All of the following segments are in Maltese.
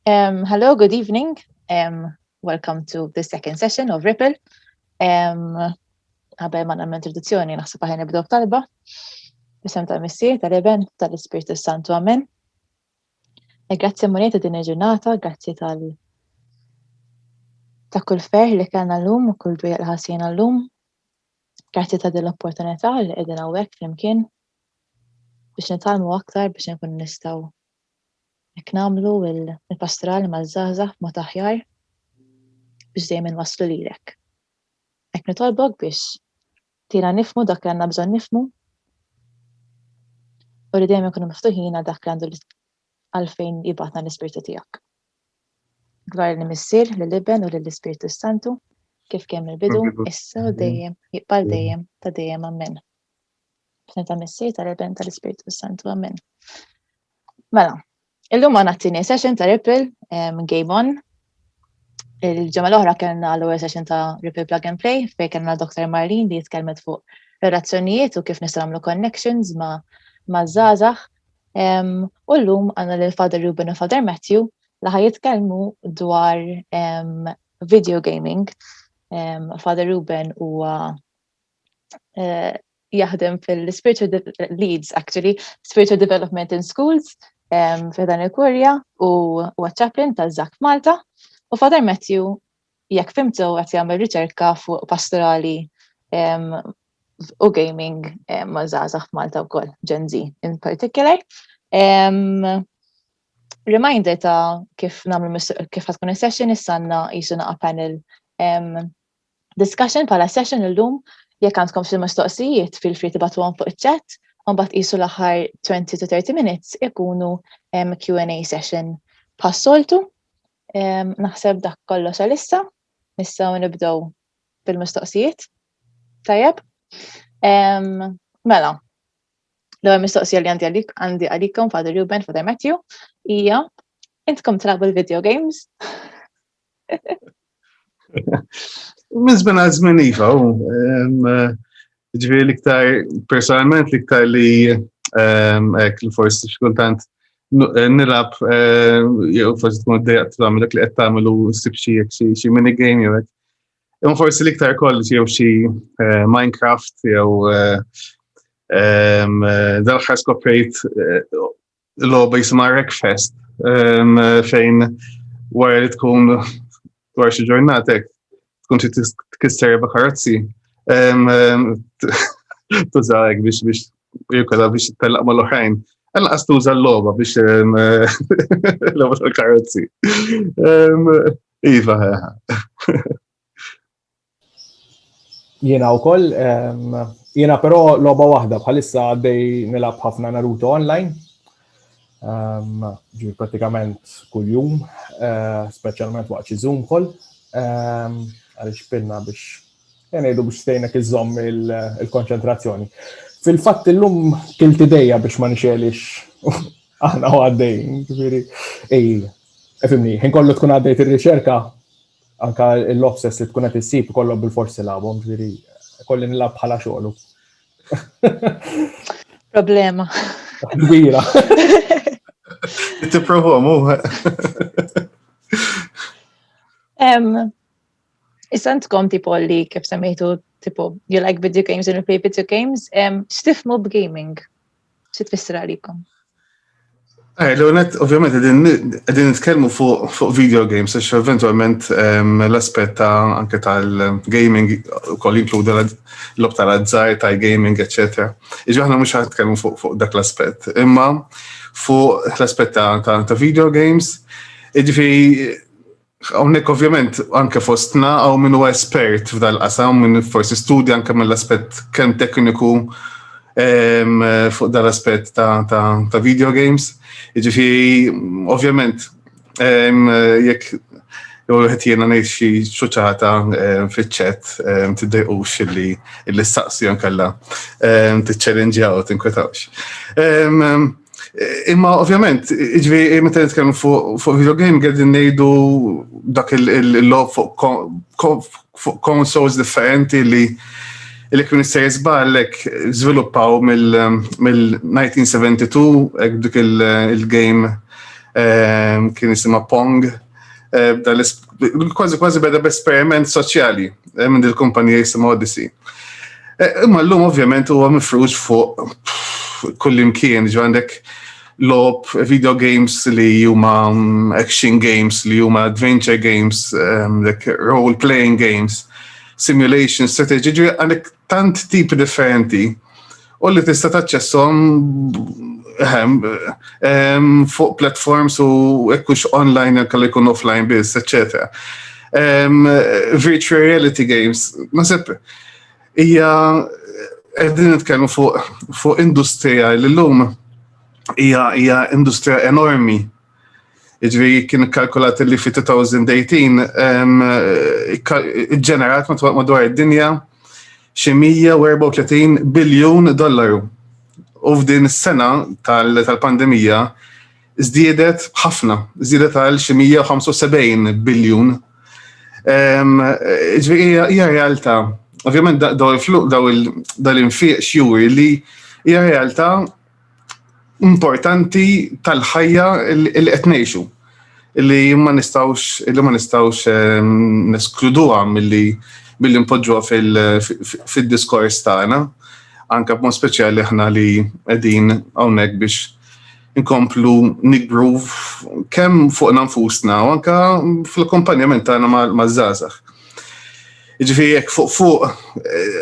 Hello, good evening. Welcome to the second session of Ripple. Qabel ma nagħmel introduzzjoni, naħseb aħjar nibdew b'talba. Bisem tal-Missier, tal-Iben, tal-Ispirtu s-Santu. Amen. E grazzi Mulej ta' din il-ġurnata, grazzi tal ta' kull ferħ li kellna llum u kull dwejja l-ħassina llum. Grazzi ta' din l-opportunità li qegħdin hawnhekk flimkien biex nitgħallmu aktar biex inkunu nistgħu hekk nagħmlu l-pastoral maż-żgħażagħ b'mod aħjar biex dejjem inwasslu lilek. Hekk nitolbok biex tira nifmu dak li għandna bżonn nifmu u li dejjem ikunu miftuħina dak li għandu għalfejn jibatna l-ispirtu tiegħek. Glorja li Missier, li Liben u li l-Ispirtu Santu, kif kemm il-bidu, issa u dejjem, jibqal dejjem, ta' dejjem ammen. B'sem ta' Missier, ta' Liben, ta' l-Ispirtu Santu ammen. Mela, illum għana t-tini session ta' Ripple, um, Game On. Il-ġemma l-oħra kellna l għu session ta' Ripple Plug and Play, fej kellna Dr. Marlin li jitkelmet fuq relazzjonijiet u kif nistgħu nagħmlu connections ma' ma' zazax U l-lum għanna l-Father Ruben u Father Matthew li ħaj jitkellmu dwar video gaming. Father Ruben huwa eh, jaħdem fil-Spiritual Leads, actually, Spiritual Development in Schools, f'dan il-Kurja u huwa chaplain ta' Zak Malta. U Father Matthew jekk fimt sew qed jagħmel riċerka fuq pastorali u gaming ma' żgħażagħ f'Malta wkoll, Gen Z in particular. Reminder ta' kif nagħmlu kif ħad tkun is-session issanna qisu naqa' panel discussion bħala session illum jekk għandkom xi mistoqsijiet fil free tibatuhom fuq iċ-chat u mbagħad qisu l-aħħar 20 to 30 minutes ikunu Q&A session bħas-soltu. Naħseb dak kollu sa lissa, nistgħu nibdew bil-mistoqsijiet. Tajjeb. Mela, l-ewwel mistoqsija li għandi għalik għandi għalikom Father Ruben, Father Matthew, hija intkom trabu l-video games? Mizben għazmen iva, Ġifieri l-iktar personalment l-iktar li ehm, hekk li forsi x'kultant eh, nilab eh, jew forsi tkun dejjaq tagħmel dak li qed tagħmel u ssib xi xi mini game jew hekk. Imma forsi l-iktar kollox jew xi eh, Minecraft jew ehm, dal-ħar skoprejt logħba jisimha Wreckfest ehm, fejn wara li tkun dwar xi ġurnatek tkun xi tkisser erba' karozzi ehm, ehm, tużawek biex biex jirkola biex tellaq mal-oħrajn. Għanna għas tuża l-loba biex l-loba tal-karozzi. Iva, Jiena wkoll, ehm, jiena però logħba waħda bħalissa għaddej nilab ħafna Naruto online. Ehm, ġi pratikament kuljum, eh, speċjalment waqt xi Zoom call, ehm, għaliex pinna biex jenejdu biex stejnek iżomm il-konċentrazzjoni. Fil-fatt illum kilti dejja biex ma nixelix aħna u għaddej, ġifiri, ej, efimni, ħin kollu tkun għaddejt ir-riċerka anka l-offsets li tkun qed issib kollhom bil-forsi labhom, ġifieri kolli nilab bħala xogħlu. Problema. Kbira. Tipprova mu. Isantkom tipo li kif semmejtu tipo you like video games and you play video games, x'tifmu b'gaming? xi tfisser għalikom? Eh, L-għonet, ovvjament, għedin nitkellmu fuq video games, għax eventualment ehm, l-aspet ta' anke tal-gaming kol inkluda l-lob tal-azzar, tal-gaming, etc. Iġu ħna mux ħatkellmu fuq dak l-aspet. Imma fuq l-aspet ta' video games, iġi Hawnhekk ovvjament anke fostna hawn min huwa espert f'dal qasam min forsi studja anke mill-aspett kemm tekniku ehm, fuq dal-aspett ta', ta, ta video games. Jiġifieri ovvjament ehm, jekk jew qed jiena ngħid xi xuċata ehm, fiċ-ċett tiddejqux illi illi staqsi nkella tiċċellenġjaw tinkwetawx. Imma ovvjament, iġvi, eh, meta nitkellmu fuq video game għedin nejdu dak il-lob fuq consoles differenti li li kun jista' jizballek żviluppaw mill-1972 dik il-game eh, kien jisimha Pong Kważi kważi beda b'esperiment soċjali eh, minn il-kumpanija jisim Odyssey. Eh, imma l-lum ovvjament huwa mifrux fuq kullimkien, ġo għandek lob video games li huma mm, action games, li huma adventure games, ehm, like role playing games, simulation strategy, għandek tant tipi differenti u li tista' taċċessom ehm, ehm, fuq platforms u ekkux online kalli jkun offline biss, etc. Ehm, virtual reality games, nasib, hija qegħdin nitkellmu fuq industrija li llum hija industrija enormi Iġviri kien kalkulat li fi 2018 ġenerat madwar id-dinja xi 134 biljun dollaru. U f'din is-sena tal-pandemija żdiedet ħafna, żdiedet għal xi 175 biljun. Iġviri hija realtà Ovvjament daw il-infiq xjuri li hija realtà importanti tal-ħajja li qed ngħixu li ma nistawx li ma nistawx ehm, neskluduha milli billi npoġġuha fil-diskors tagħna, anke b'mod speċjali aħna li qegħdin hawnhekk biex inkomplu nikbru kemm fuq nfusna u anke fl-akkompanjament tagħna maż-żgħażagħ. Ġifieri jekk fuq fuq eh,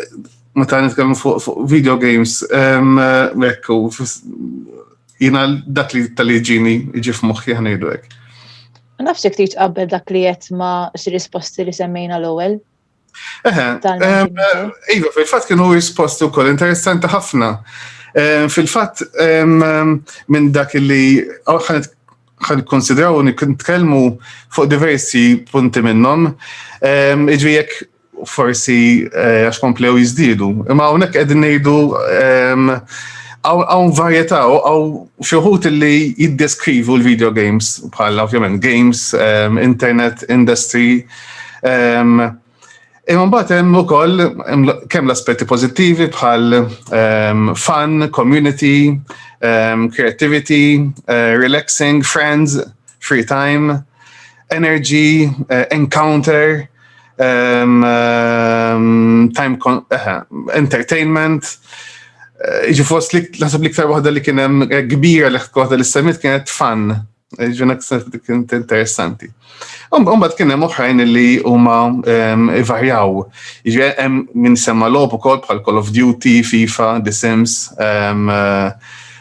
meta nitkellmu fuq fu video games, ekku, jina dak li tal-li ġini iġi f'moħħi ħanejdu hekk. Nafsi ktit qabel dak li jett ma risposti li semmejna l-ewwel. Iva, fil-fatt kienu risposti wkoll interessanti ħafna. Fil-fatt minn dak li ħan konsidraw u nitkellmu fuq diversi punti minnhom, iġvi jekk forsi eh, għax komplew jizdidu. Imma hawnhekk qegħdin ngħidu ehm, għaw varjetà għaw xuħut li jiddeskrivu l-video games bħala ovvjament games, ehm, internet, industry. Ehm, imma mbagħad hemm ukoll kemm l-aspetti pożittivi bħal fun, community, creativity, eh, relaxing, friends, free time, energy, eh, encounter. time eh, entertainment, eh, ġi fost li nasib li ktar waħda li kienem eh, kbira li waħda li semmit kienet fan, ġuna kienet interessanti. Umbat kienem uħrajn li huma varjaw, ġi minn semma lob u kol bħal Call of Duty, FIFA, The Sims,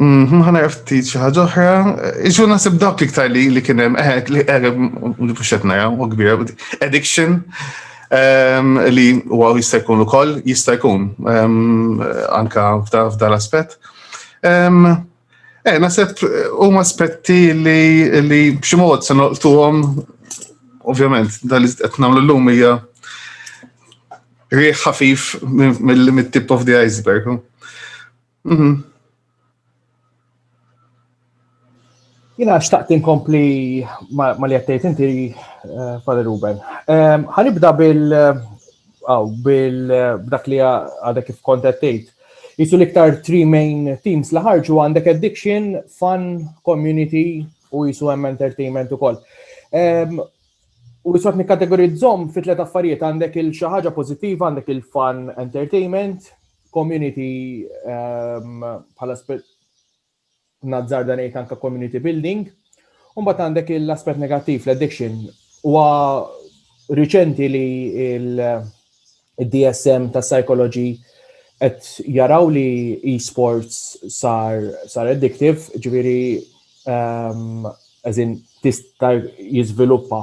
Mħana mhm, ftit xi ħaġa oħra, iġu nasib dawk iktar li li kien hemm eh, li eh, mhux qed naraw u kbira addiction ehm, li huwa jista' jkun ukoll jista' jkun ehm, anka f'dan l-aspett. Ehm, eh, nasib huma aspetti li li b'xi mod se noqtuhom ovvjament dan li qed nagħmlu llum hija riħ ħafif mill-tip of the iceberg. Mhm. Jina xtaqt inkompli ma li għattejt inti eh, Father Ruben. Ehm, ħanibda bil għaw bil dak li għadek kif kontattejt. Jisu liktar three main teams li ħarġu għandek addiction, fun, community u jisu hemm entertainment u koll. Ehm, U jisot nikkategorizzom fit tlet affarijiet għandek il-xaħġa pozittiva, għandek il-fun entertainment, community bħala nazzar dan ngħid anke community building. U mbagħad għandek l-aspett negattiv l-addiction huwa riċenti li il-DSM ta' psychology qed jaraw li e-sports sar sar addictive, ġifieri ehm, eżin tista' jiżviluppa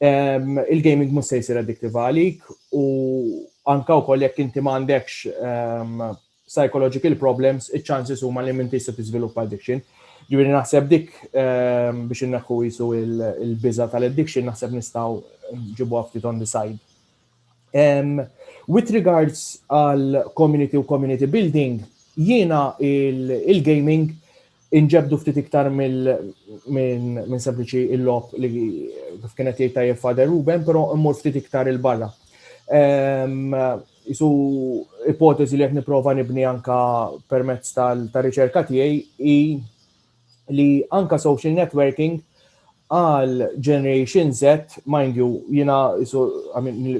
il-gaming mhux se jsir addictive għalik u anke wkoll jekk inti ma għandekx psychological problems, iċ-chances huma li m'intix se tiżviluppa addiction. Ġifieri naħseb dik biex inneħħu qisu l-biża' tal-addiction naħseb nistgħu nġibuha ftit on the side. With regards għal community u community building, jiena il-gaming inġebdu ftit iktar minn sempliċi il-lop li kif kienet jgħid tajjeb Fader Ruben, però mmur ftit iktar il-barra. Isu ipoteżi li qed nipprova nibni anka permezz tal-riċerka tiegħi hi li anka social networking għal Generation Z, mind you, jina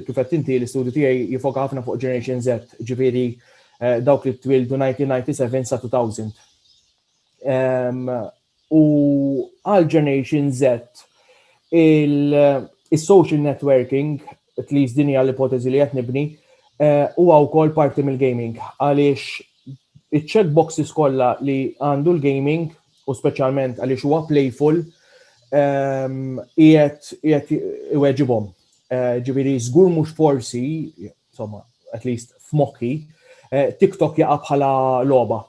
kifet inti l-istudju tijaj jifoka ħafna fuq Generation Z, ġifiri eh, dawk li twildu 1997 sa 2000. U għal Generation Z, il-social networking at least din hija l-ipoteżi li qed nibni, eh, huwa wkoll parti mill-gaming għaliex iċ-check boxes kollha li għandu l-gaming u speċjalment għaliex huwa playful ehm, qiegħed iweġibhom. Eh, ġifieri żgur mhux forsi, insomma, at least f'mokki, eh, TikTok jaqa' bħala logħba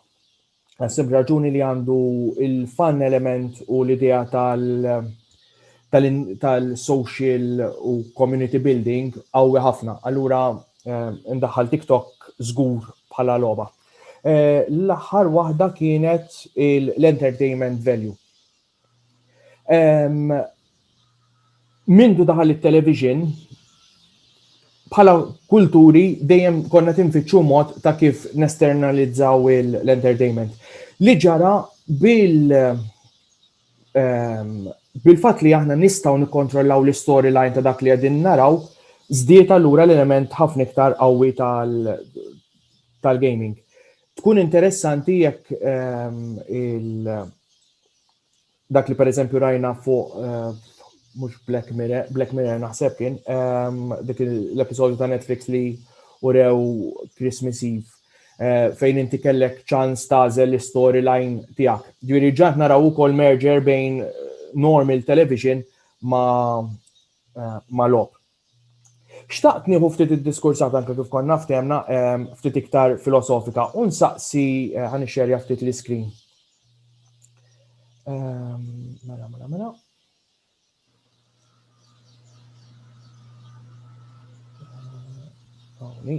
Għasib raġuni li għandu il-fan element u l-idea tal-social u community building għawi ħafna. Allura, eh, ndaħħal TikTok zgur bħala loba. Eh, l-aħħar waħda kienet l-entertainment value. Mindu daħal it-television, bħala kulturi dejjem konna tinfittxu mod ta' kif nesternalizzaw l-entertainment. Li ġara bil bil-fatt li aħna nistgħu nikkontrollaw l-istoryline ta' dak li qegħdin naraw, żdied allura l-element ħafna iktar qawwi tal-gaming. Tkun interessanti jekk il- dak li pereżempju rajna fuq eh, mhux Black Mirror, Black Mirror naħseb kien ehm, dik l-episodju ta' Netflix li urew Christmas Eve eh, fejn inti kellek ċans tażel l-storyline tiegħek. Ġifieri ġant naraw ukoll merger bejn eh, normal television ma' ma' lob. Xtaqt nieħu ftit id-diskursat anke kif konna ftehmna ftit iktar filosofika u nsaqsi eh, ħan ixxerja ftit l-iskrin. Mela, mela, mela. Għawni.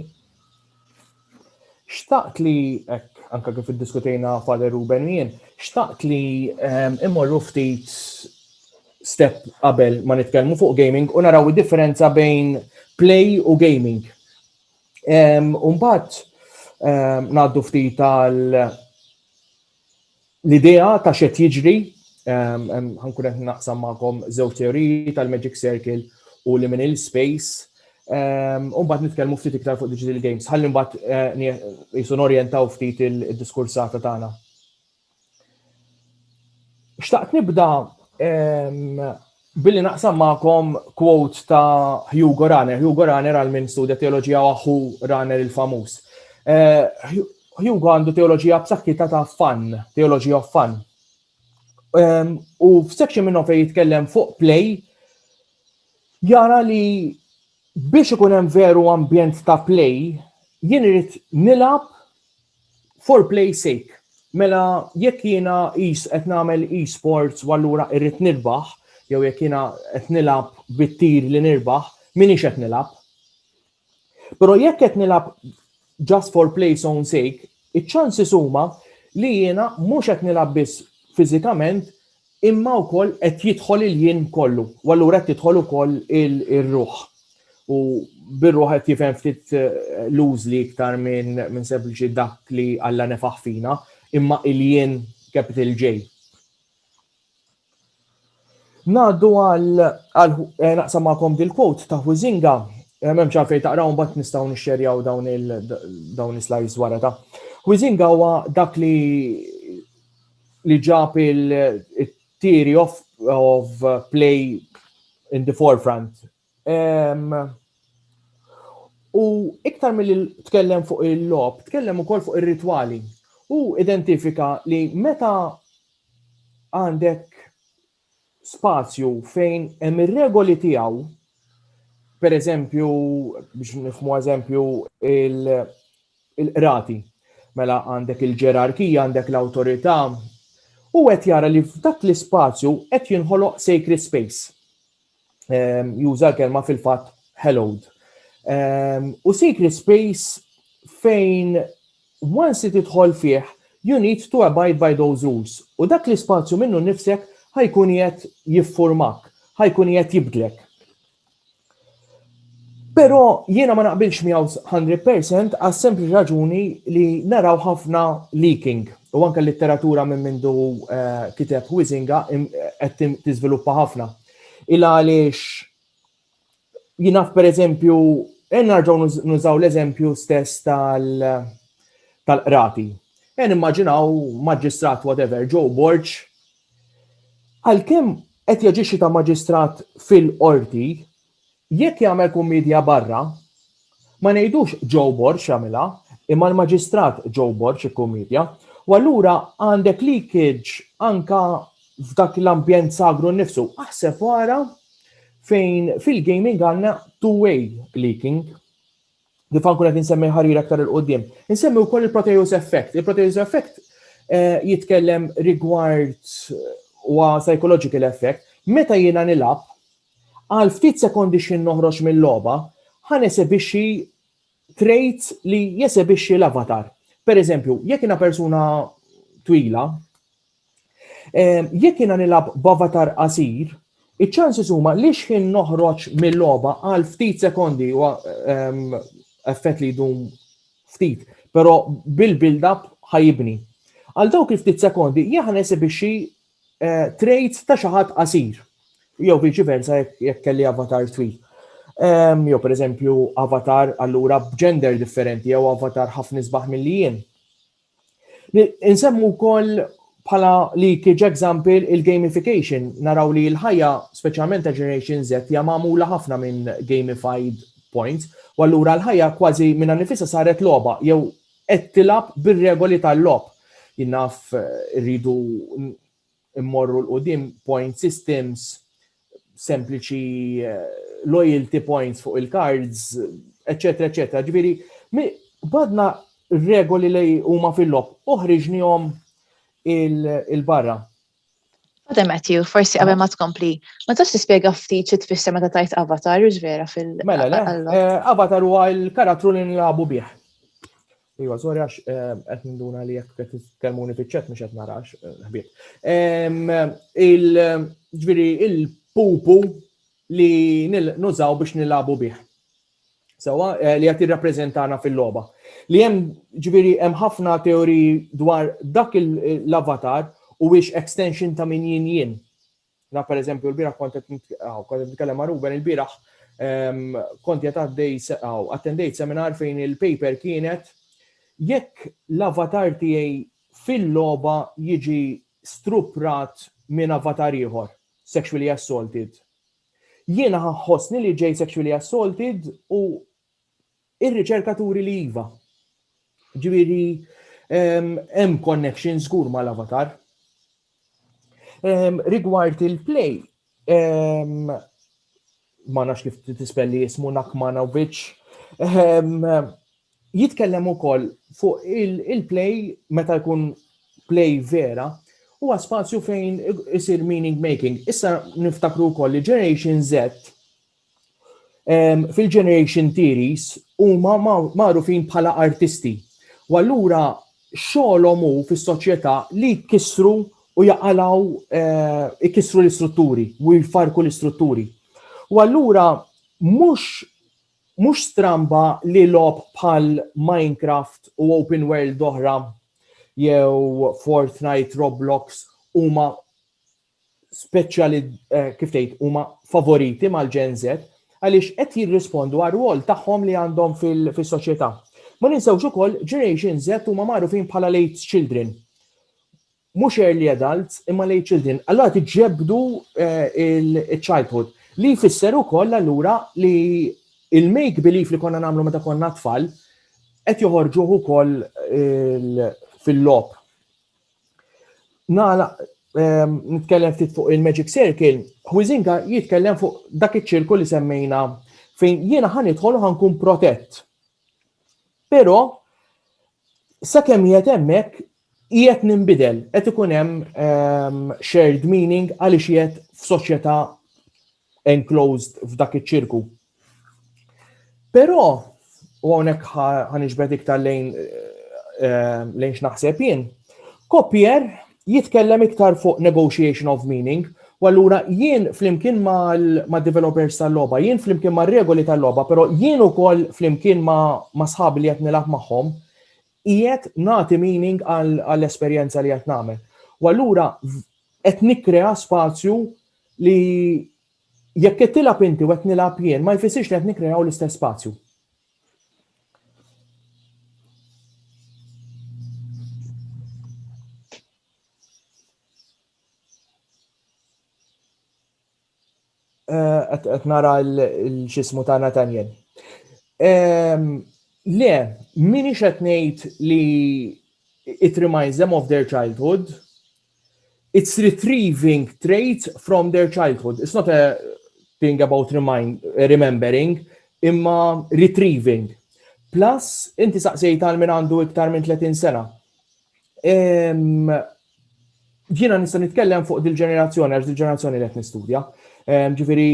Xtaqt li, ek, anka kif iddiskutejna Father Ruben u jien, xtaqt li ehm, immorru ftit step qabel ma nitkellmu fuq gaming u naraw id-differenza bejn play u gaming. Ehm, Umbat, ehm, naddu ftit tal l-idea ta' xed jiġri, ħankun qed naqsam magħkom żewġ teoriji tal-Magic Circle u li minn il-space. U mbagħad nitkellmu ftit iktar fuq digital games. Ħalli mbagħad eh, jisu norjentaw ftit il-diskursata tagħna. Xtaqt nibda Billi naqsam magħkom quote ta' Hugo Raner. Hugo Raner għal min studja teoloġija u aħu Raner il-famuż. Eh, Hugo għandu teoloġija b'saħħitha ta' fan, teoloġija of fan. Ehm, u f'section minnhom fejn jitkellem fuq play, jara li biex ikun hemm veru ambjent ta' play, jien irid nilgħab for play sake. Mela jekk jiena is qed nagħmel e-sports u allura irrid nirbaħ, jew jekk jiena qed nilgħab bit-tir li nirbaħ, minix qed nilgħab. Però jekk qed nilgħab just for play's own sake, iċ-ċansis huma li jiena mhux qed nilgħab biss fiżikament imma wkoll qed jidħol il-jien kollu, u allura qed tidħol ukoll ir-ruħ. U bir-ruħ qed jifhem ftit eh, lużli iktar minn min sempliċi dak li Alla nefaħ fina, imma il-jien capital J. Naddu għal eh, naqsam ma'kom dil-quote ta' Huizinga, eh, memx għalfej taqraw mbagħad nistgħu nixxerjaw dawn il dawn is-slides wara ta' Huizinga huwa dak li li ġab il-theory of, of play in the forefront U iktar mill tkellem fuq il-lob, tkellem ukoll fuq ir-ritwali. U identifika li meta għandek spazju fejn hemm ir-regoli tiegħu, per eżempju, biex nifmu eżempju il-qrati, mela għandek il-ġerarkija, għandek l-awtorità, u qed jara li f'dak l-ispazju qed jinħoloq sacred space. ehm, juża l-kelma fil-fatt hallowed. Ehm, u secret space fejn once it idħol fih, you need to abide by those rules. U dak l-ispazju minnu nifsek ħajkun jett jiffurmak, ħajkun jett jibdlek. Però jiena ma naqbilx miegħu 100 percent għas-sempliċi raġuni li naraw ħafna leaking u anke l-litteratura minn mindu eh, kiteb Huizinga eh, qed tiżviluppa ħafna. Il għaliex jinaf per eżempju, eh, narġaw nużaw l-eżempju stess tal-qrati. Jen immaġinaw maġistrat whatever, Joe Borċ, għal-kem qed jaġixxi ta' maġistrat fil-qorti, Jekk jagħmel kummiedja barra, ma ngħidux Joe Borg għamilha, imma l-Maġistrat Joe Borg ikkummiedja, u allura għandek leakage anke f'dak l-ambjent sagru nnifsu. Aħseb u ara fejn fil-gaming għandna two-way leaking. kif ħankun qed insemmi ħarir aktar il qudiem Insemmi wkoll il-Proteus effect. Il-Proteus effect eh, jitkellem rigward u psychological effect. Meta jiena nilab, għal ftit sekondi xin noħroġ mill-loba, ħan esebixi trejt li jesebixi l-avatar. Per eżempju, jekk jiena persuna twila, Eh, jekk jiena nilab b'avatar qasir, iċ-ċansis huma li xħin noħroġ mill-logħba għal ftit sekondi u ehm, effett li jdum ftit, però bil-build-up ħajibni. Għal dawk il-ftit sekondi jaħan esibixxi eh, trades ta' xi ħadd qasir jew viċi versa jekk kelli avatar twil. Ehm, jew per eżempju avatar allura b'gender differenti jew avatar ħafna isbaħ mill-li jien. Insemmu wkoll bħala li kieġ example il-gamification, naraw li l-ħajja speċjalment ta' Generation Z hija magħmula ħafna minn gamified points, u allura l-ħajja kważi minna nifisa saret logħba jew qed tilab bir-regoli tal-logħob. Jinnaf rridu immorru l-qudiem point systems sempliċi eh, loyalty points fuq il-cards, eccetera, eccetera. Ġviri, badna regoli li huma fil-lob, uħriġnihom il-barra. Għadem Matthew, forsi għabem ma tkompli, ma tax tispjega ftit xi tfisser meta tajt avatar, ġvera fil- Mela, le, eh, avatar huwa l-karattru li nlabu bih. Iwa, sorry għax eh, qed ninduna li jekk qed titkellmuni fiċ-ċet mhux qed narax eh, ħbieb. Il-ġifieri il-pupu li nużaw biex nilabu bih. Sewa eh, li qed jirrappreżentana fil-logħba. Li hemm ġifieri hemm ħafna teoriji dwar dak l-avatar u wiex extension ta' min jien jien. Na per eżempju, l-biraħ kont qed nitkellem ma' Ruben, il-biraħ ehm, kont qed għaddej attendejt seminar fejn il-paper kienet jekk l-avatar tiegħi fil-logħba jiġi struprat minn avatar ieħor, sexually assaulted. Jiena ħossni li ġej sexually assaulted u Ir-riċerka turi li iva. Ġifieri hemm connection żgur mal-avatar. Rigward il-play, ma nafx kif tispelli jismu Nakmana u Biċ, jitkellem ukoll fuq il-play meta jkun play vera huwa spazju fejn isir meaning making. Issa niftakru wkoll li Generation Z fil-generation theories huma magħrufin bħala artisti. U allura xogħolhom hu fis-soċjetà li jkissru u jaqalaw eh, ikissru l-istrutturi u jfarku l-istrutturi. U allura mhux mhux stramba li lob bħal Minecraft u Open World oħra jew Fortnite, Roblox huma speċjali eh, kif tgħid huma favoriti mal-Gen Z għaliex qed jirrispondu għar rwol tagħhom li għandhom fis-soċjetà. Ma ninsewx ukoll Generation Z huma magħrufin bħala late children. Mhux early adults imma late children. Allora tiġġebdu eh, il-childhood li jfisser ukoll allura li il-make belief li konna nagħmlu meta konna tfal qed joħorġuh ukoll fil-lop. Nala, ehm, nitkellem ftit fuq il-Magic Circle, Huizinga jitkellem fuq dak iċ-ċirku li semmejna fejn jiena ħan idħol ħankun protett. Però sakemm jgħet hemmhekk jgħet nimbidel, qed ikun hemm ehm, shared meaning għaliex jgħet f'soċjetà enclosed f'dak iċ-ċirku. Però, u hawnhekk ħaniġbed iktar lejn eh, lejn x'naħseb jien, Kopier jitkellem iktar fuq negotiation of meaning, u allura jien flimkien ma' developers tal-loba, jien flimkien ma' regoli tal-loba, pero jien u koll flimkien ma' sħab li jatni laħ maħħom, jiet nati meaning għall-esperienza li jatname. U allura qed nikkrea spazju Li jekk qed tilgħab inti u qed nilgħab jien ma jfissirx li qed nikkreaw l-istess spazju. qed eh, nara l-xismu ta' Nathaniel. Ehm, le, minix qed ngħid li it reminds them of their childhood, it's retrieving traits from their childhood. It's not a thing about remind, remembering, imma retrieving. Plus, inti saqsejt għal minn għandu iktar minn 30 sena. Ġina nista' nitkellem fuq dil-ġenerazzjoni, għax dil-ġenerazzjoni li qed nistudja. Ġifieri,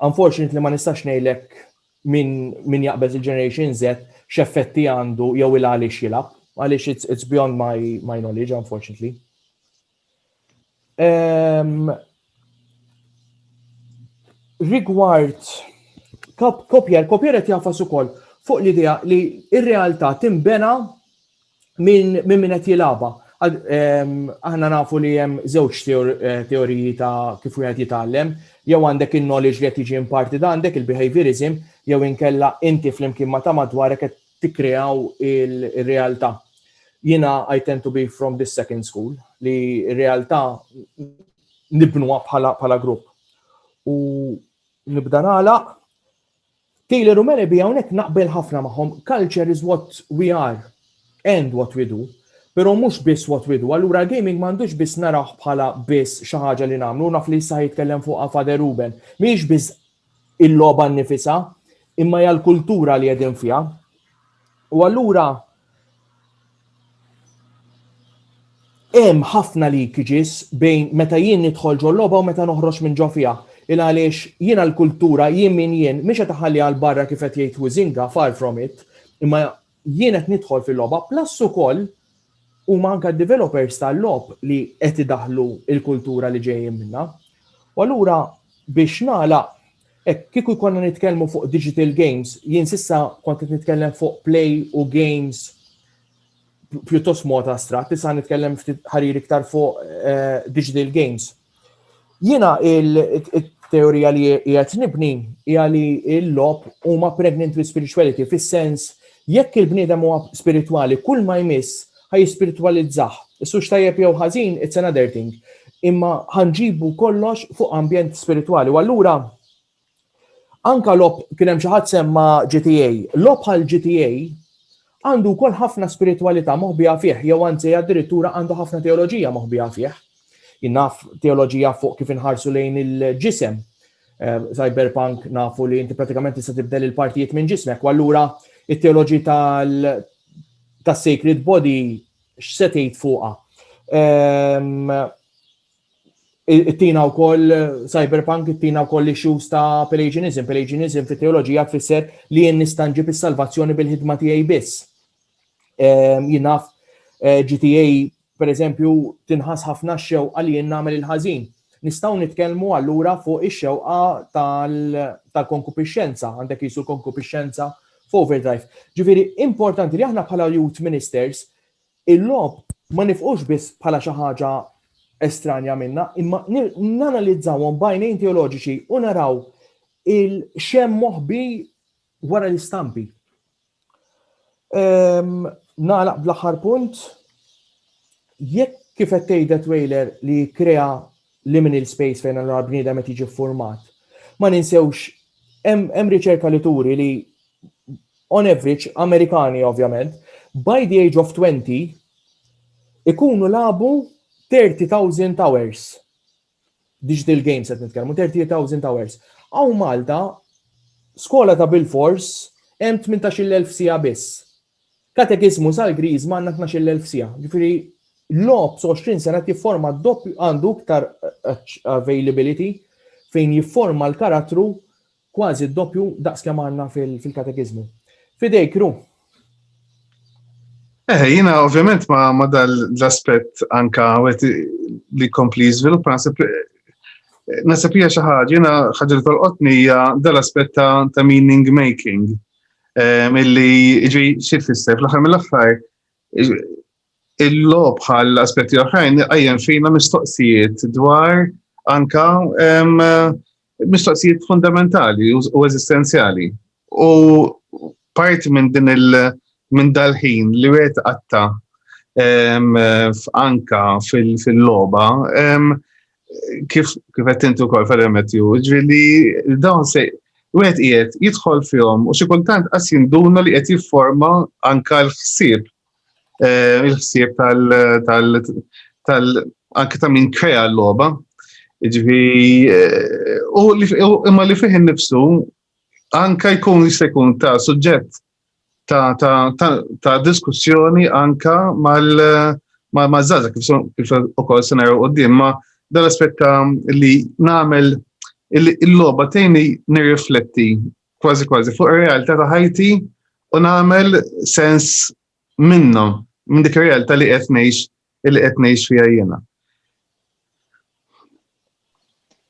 unfortunately ma nistax ngħidlek Min min jaqbeż il-Generation Z x'effetti għandu jew il għaliex jilgħab? Għaliex it's, it's beyond my, my knowledge, unfortunately. Um, rigward kopjer, kopjer qed jafas ukoll fuq l-idea li r-realtà timbena minn min qed jilagħba. Aħna nafu li hemm żewġ eh, teoriji ta' kif wieħed jitgħallem, jew għandek in-knowledge li qed jiġi imparti da għandek il-behaviorism, jew inkella inti flimkien ma ta' madwarek qed tikkreaw il-realtà. Jiena I tend to be from this second school li r-realtà nibnuha bħala bħala grupp. U nibda nagħlaq Taylor u Merebi hawnhekk naqbel ħafna magħhom, culture is what we are and what we do, però mhux biss what we do. Allura l-gaming m'għandux biss narawh bħala biss xi ħaġa li nagħmlu, naf li issa jitkellem fuqha Father Ruben. Mhijiex biss il-logħba nnifisha, imma hija l-kultura li qegħdin fiha. U allura Hemm ħafna leakages bejn meta jien nidħol ġol logħba u meta noħroġ minn ġo fiha. Il għaliex jiena l-kultura, jien min jien, mhix qed iħalli għal barra kif qed jgħid Huizinga, far from it, imma jien qed nidħol fil-logħba, plus ukoll huma anke d-developers tal-logħob li qed idaħħlu l-kultura li ġejjin minnha. U allura biex nagħlaq, Hekk kieku jkollna nitkellmu fuq digital games, jien sissa kont qed nitkellem fuq play u games pjuttost mod astrat, issa nitkellem ftit ħarir iktar fuq eh, digital games. Jiena il-teorija li qiegħed nibni hija li l-lob huma pregnant with spirituality fis-sens jekk il-bniedem huwa spiritwali kull ma jmiss ħa jispiritwalizzah. Is hux tajjeb jew ħażin, it's another thing. Imma ħa nġibu kollox fuq ambjent spiritwali. U allura anka lob kien hemm xi ħadd semma GTA. Lob bħal GTA għandu wkoll ħafna spiritwalità moħbija fih, jew anzi addirittura għandu ħafna teoloġija moħbija fih. Jinnaf teoloġija fuq kif inħarsu lejn il-ġisem. Eh, cyberpunk nafu li inti pratikament tista' tibdel il-partijiet minn ġismek, u allura it-teoloġi ta' Sacred Body x'se tgħid fuqha. Ehm, ittina wkoll cyberpunk ittina wkoll issues ta' Pelagianism. Pelagianism fit teoloġija tfisser li jien nistanġi bis-salvazzjoni bil-ħidma tiegħi biss. Ehm, Jinaf eh, GTA Pereżempju, tinħass ħafna x-xewqa li jien nagħmel il-ħażin. Nistgħu nitkellmu allura fuq ix-xewqa tal-konkupixxenza, għandek qisu l-konkupixxenza f'overdrive. Ġifieri, importanti li aħna bħala youth ministers il-logħob ma nifhux biss bħala xi ħaġa estranja minna, imma nanalizzawhom b'għajnejn teoloġiċi u naraw x'hemm moħbi Wara l-istampi. Ehm, nagħlaq bl-aħħar punt, jekk kif qed tgħidha trailer li krea liminal space fejn allura bniedem qed jiġi format. Ma ninsewx hemm riċerka li turi li on average Amerikani ovvjament by the age of 20 ikunu labu 30,000 hours digital games qed nitkellmu 30,000 hours. Hawn Malta skola ta' bil-fors hemm 18,000 sija biss. Katekismu sal-Griż ma għandna 12,000 sija. Ġifieri lob 20 sena jifforma doppju għandu iktar availability fejn jifforma l-karattru Kważi d-doppju daqs kemm għandna fil-katekiżmu. F'idejk, Ru. Eh, jina ovvjament ma, ma dal-aspet anka għet li kompli jizvilup, nasib nasib hija xi ħaġa, jiena ħaġa li tolqotni hija dal-aspett ta', ta meaning making. Milli ġi xi tfisser fl-aħħar mill-aħħar Il-logħob bħal aspetti oħrajn qajjem fina mistoqsijiet dwar anka mistoqsijiet fundamentali u eżistenzjali. U parti minn din il- minn dal-ħin li wieħed qatta anka fil-logħba kif kif qed intu wkoll fil-remetju, ġifieri dawn se wieħed qiegħed jidħol fihom u xi kultant qas jinduna li qed jifforma anka l-ħsieb eh, il-ħsieb tal tal anke ta' min krea l-logħba. Ġifi, eh, imma li fih nifsu anka jkun jista' jkun ta' suġġett ta' diskussjoni anka mal ma' zaza kif ukoll se naraw qudiem ma' dal-aspett li nagħmel il-logħba tgħinni nirrifletti kważi kważi fuq ir-realtà ta' ħajti u nagħmel sens minnhom, minn dik ir-realtà li qed ngħix li qed ngħix fiha jiena.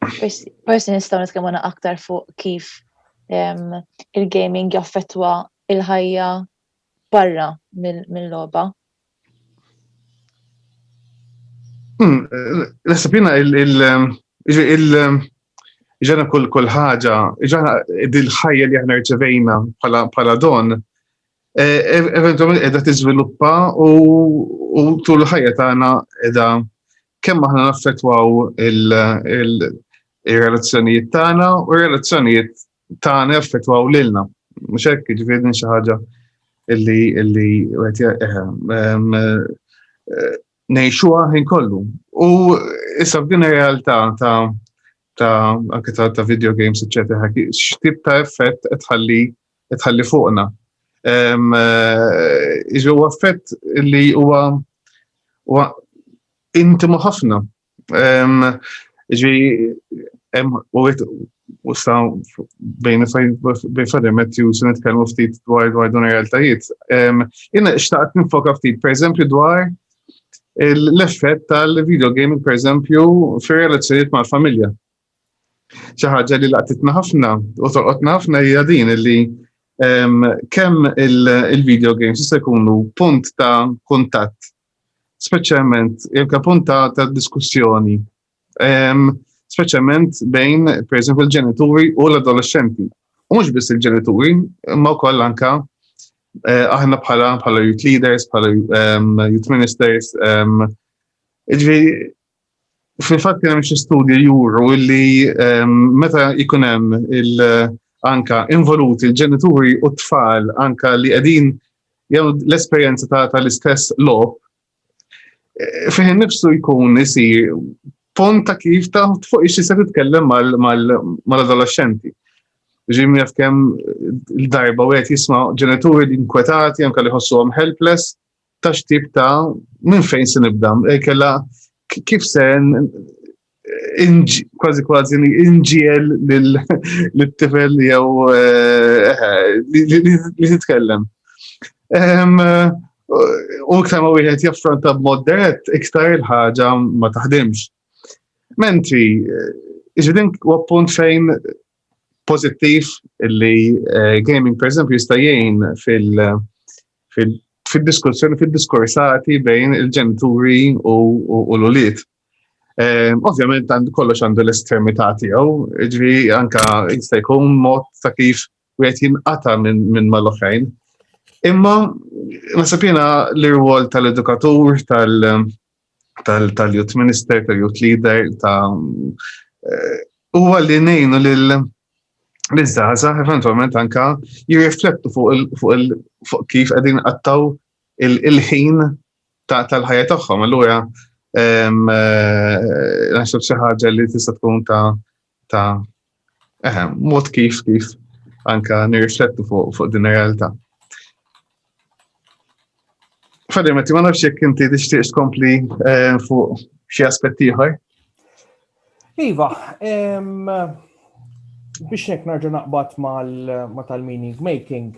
Forsi nistgħu nitkellmu aktar fuq kif il-gaming jaffettwa il-ħajja barra mill-logħba. Hmm, Nasib jina il-ġana kull kull ħaġa, ġana dil-ħajja li ħna rċevejna pala don, e, e, eventualment edha tiżviluppa u tul ħajja tagħna edha kemm aħna naffettwaw il-relazzjonijiet tagħna u relazzjonijiet tagħna jaffettwaw lilna. Mhux hekk jiġifieri din xi ħaġa illi illi wieħed eh, ehm, eh, ngħixuha ħin kollu. U issa f'din ir-realtà ta' ta' anke ta', ta video games, eċetera, x'tip ta' effett qed tħalli qed tħalli fuqna. Ehm, eh, Iġu effett li huwa huwa intimu ħafna Ġi, u sta bejn fadimet ju se nitkellmu ftit dwar dwar dun realtajiet. Jina xtaqt nifoka ftit, per eżempju, dwar l-effett tal-video gaming, per eżempju, fir relazzjoniet mal-familja. Xi ħaġa li laqtitna ħafna u torqotna ħafna hija din li kemm il-video games jista' jkunu punt ta' kuntatt speċjalment jekk punta ta' diskussjoni, ehm, speċjalment bejn, per eżempju, il-ġenituri u l-adolescenti. U mhux biss il-ġenituri, imma wkoll anka eh, aħna bħala bħala youth leaders, bħala ehm, youth ministers, ehm, Iġvi, Fil-fatt kien hemm xi studji juru li ehm, meta jkun hemm anka involuti l-ġenituri u t-tfal anka li qegħdin jgħu l-esperjenza tal-istess lob eh, fih nifsu jkun isir pont ta' kif ta' fuq ixi se titkellem mal-adolescenti. Ġim jaf kem l-darba u għet jisma ġenituri li inkwetati, anka li ħossu għom helpless, ta' xtib ta' minn fejn se nibda, eh, kella kif se kważi kważi inġiel l-tifel jew eh, eh, li titkellem. U iktar ma wieħed jaffronta b'mod dirett, iktar il-ħaġa ma taħdimx. Mentri, ġidin u appunt fejn pożittiv li eh, gaming pereżempju jista' jgħin fil- fil-diskussjoni, fil-diskursati bejn il-ġenituri u l-uliet. Eh, ovvjament għand kollox għandu l-estermità tiegħu, ġri anka jista' jkun mod ta' kif wieħed jinqata minn mal-oħrajn. Imma nasab jiena l-irwol tal-edukatur, tal- tal-youth minister, tal-youth leader, ta' eh, huwa li nejnu lil l-żaza eventualment anka jirriflettu fuq kif qegħdin qattaw il-ħin tal-ħajja tagħhom. Allura eh, naħseb xi ħaġa li tista' tkun ta' ta' eh, mod kif kif anka nirriflettu fuq fuq din realtà. Fadim, ma nafx jekk inti tixtieq tkompli eh, fuq xi aspetti ieħor. Iva, biex nek narġa naqbad ma tal-meaning making,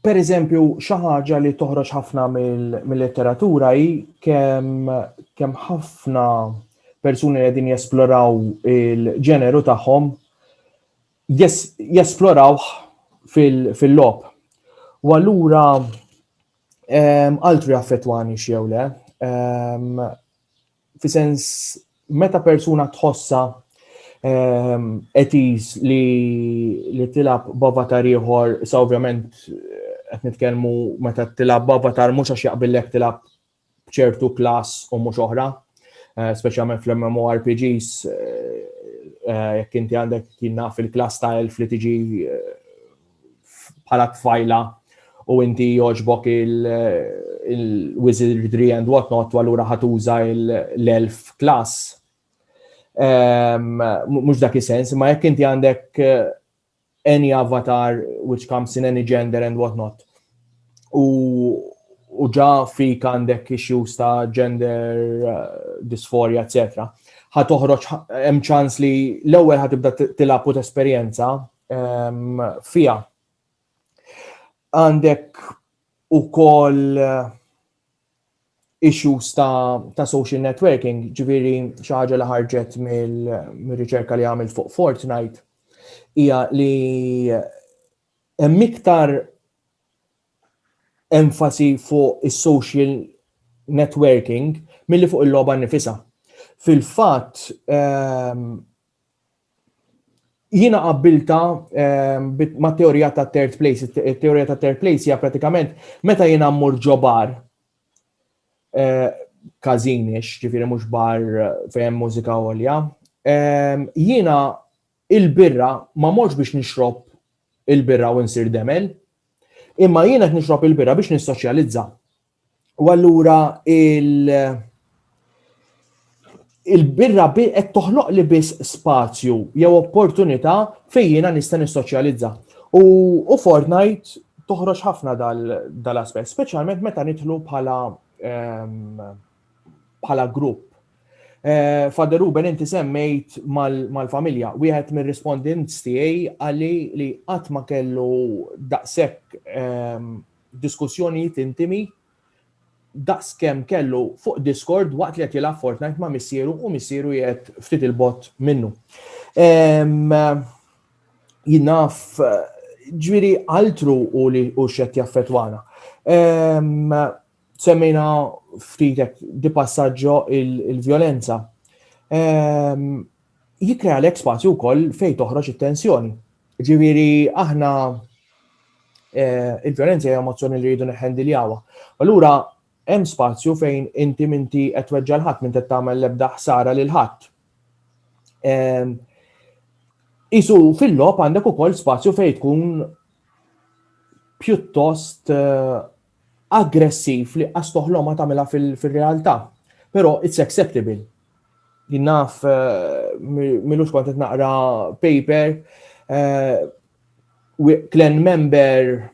Per eżempju, xi ħaġa li toħroġ ħafna mill-letteratura hi kemm kemm ħafna persuni li qegħdin jesploraw il-ġeneru tagħhom jesploraw fil-lob. U allura altri affettwani xew le, fi sens meta persuna tħossa etis ehm, li li tilab b'avatar ieħor, sa ovvjament qed nitkellmu meta tilab b'avatar mhux għax jaqbillek tilab ċertu klass u mhux oħra, eh, speċjalment fl-MMORPGs eh, eh, jekk inti għandek kien naf il-klass ta' elf li tiġi bħala tfajla u inti joġbok il-wizardry and whatnot u għallura ħatuża l-elf klas. Ehm, Mux dak sens, ma jekk inti għandek eh, any avatar which comes in any gender and whatnot. U u ġa fik għandek issues ta' gender uh, dysphoria, etc. ħatoħroġ hemm ċans li l-ewwel ħatibda tilab u tesperjenza fija. Għandek u koll eh, issues ta', ta social networking, ġviri xaħġa li ħarġet mill-riċerka li għamil fuq Fortnite, hija li hemm iktar enfasi fuq is-social networking milli fuq il-logħba nifisa. Fil-fatt, ehm, Jiena qabbilta ma' teorija ta' third place. Teorija ta' third place hija pratikament meta jiena mmur ġo bar kazinix, ġifiri mhux bar fejn mużika għolja. Jiena il-birra ma morx biex nixrob il-birra u nsir demel, imma jiena qed nixrob il-birra biex nissoċjalizza. U allura il- il-birra bi qed toħloq li biss spazju jew opportunità fejn jiena nista' nissoċjalizza. U, u Fortnite toħroġ ħafna dal-aspett, dal speċjalment meta nidħlu bħala ehm, bħala um, grupp. Uh, Fader Ruben inti semmejt mal-familja, mal wieħed mir-rispondents tiegħi għalli li qatt ma kellu daqshekk um, diskussjonijiet intimi daqs kemm kellu fuq Discord waqt li qed jilgħab Fortnite ma' missieru u missieru jgħid ftit il-bot minnu. Jinaf ġviri altru u li u xed jaffetwana. Semmejna ftitek di passaġġo il-violenza. Jikrea l-ek spazju wkoll fejn toħroġ it-tensjoni. Ġifieri aħna eh, il-vjolenza hija emozzjoni li rridu neħendiljawa. Allura hemm spazju fejn inti minti qed weġġa' l-ħadd minn qed tagħmel l-ebda ħsara lil ħadd. Ehm, isu fil-lob għandek ukoll spazju fejn tkun pjuttost eh, aggressiv li qas toħlomha tagħmilha fir-realtà. Però it's acceptable. Jien naf milux kont qed naqra paper klen eh, member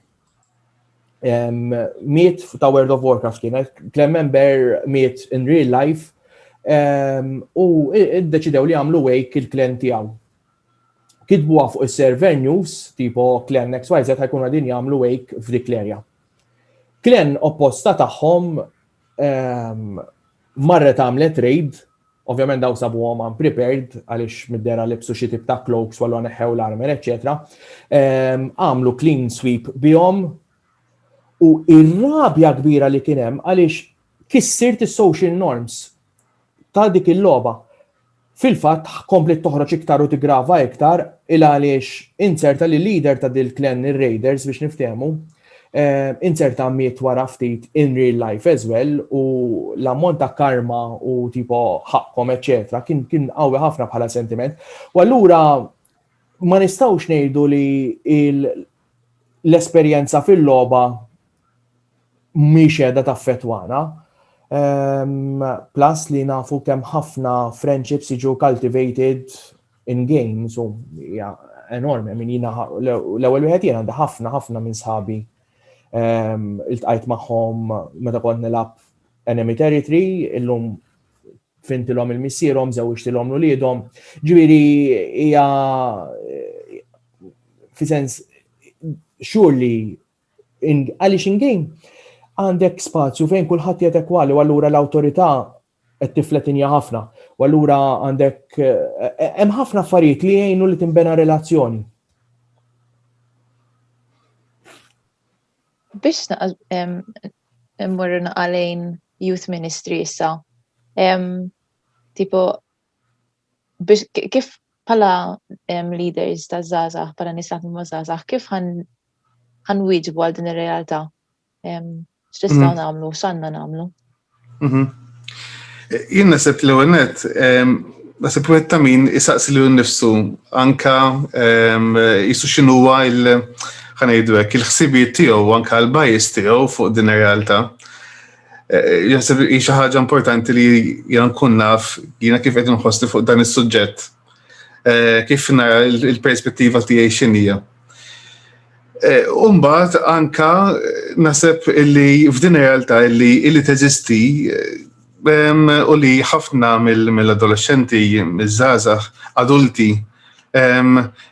miet ta' World of Warcraft kien, klen member miet in real life u id-deċidew li għamlu wake il-klen tiegħu. kitbuha fuq is-server news tipo klen XYZ ħajkunu qegħdin jagħmlu wake f'dik l-erja. Klen opposta tagħhom ehm, marret għamlet raid, ovvjament daw sabuhom unprepared għaliex middera libsu xi tip ta' cloaks wallu neħew l-armer, eċetera. Ehm, għamlu clean sweep bihom u ir-rabja kbira li kien hemm għaliex kissirt is-social norms ta' dik il-logħba. Fil-fatt, kompliet toħroġ iktar u tiggrava iktar il għaliex inzerta li leader ta' dil-clan ir-Raiders biex niftehmu, inzerta miet wara ftit in real life as well u l-ammont ta' karma u tipo ħaqqhom eċċetera kien kien qawwi ħafna bħala sentiment. U allura ma nistgħux ngħidu li l-esperjenza fil-logħba mhix qiegħda taffettwana. Um, plus li nafu kemm ħafna friendships jiġu cultivated in games u hija enormi, minn jina l-ewwel wieħed jien għandi ħafna ħafna minn sħabi um, iltqajt magħhom meta kont nilgħab enemy territory, illum fintilhom il-missierhom, żewġtilhom l-uliedhom. Ġifieri hija fi sens xur li Għaliex in-game għandek spazju fejn kulħadd jgħid ekwali u allura l-awtorità qed tifletinja ħafna. U allura għandek eh, hemm ħafna affarijiet li jgħinu li tinbena relazzjoni. Biex immorru naqalejn youth ministry issa, tipo kif pala leaders ta' zazah, pala nisat ma zazah, kif għan ħan wieġbu għal din ir-realtà. X'nistgħu mhm. nagħmlu, x'għandna nagħmlu? Mhm. Jien naħseb l ewwel net, naħseb wieħed ta' min isaqsi lil nnifsu anka jisu x'inhuwa il- ħanajdu hekk il-ħsibijiet tiegħu anka l-bajis tiegħu fuq din ir-realtà. Eh, Jasib hi xi ħaġa importanti li jien nkun naf jiena kif qed inħossni fuq dan is-suġġett. Eh, kif nara l-perspettiva tiegħi x'inhija. Eh, Umbat anka eh, naseb illi f'din realtà illi illi teżisti eh, u li ħafna mill-adolescenti, mill-żazax, adulti,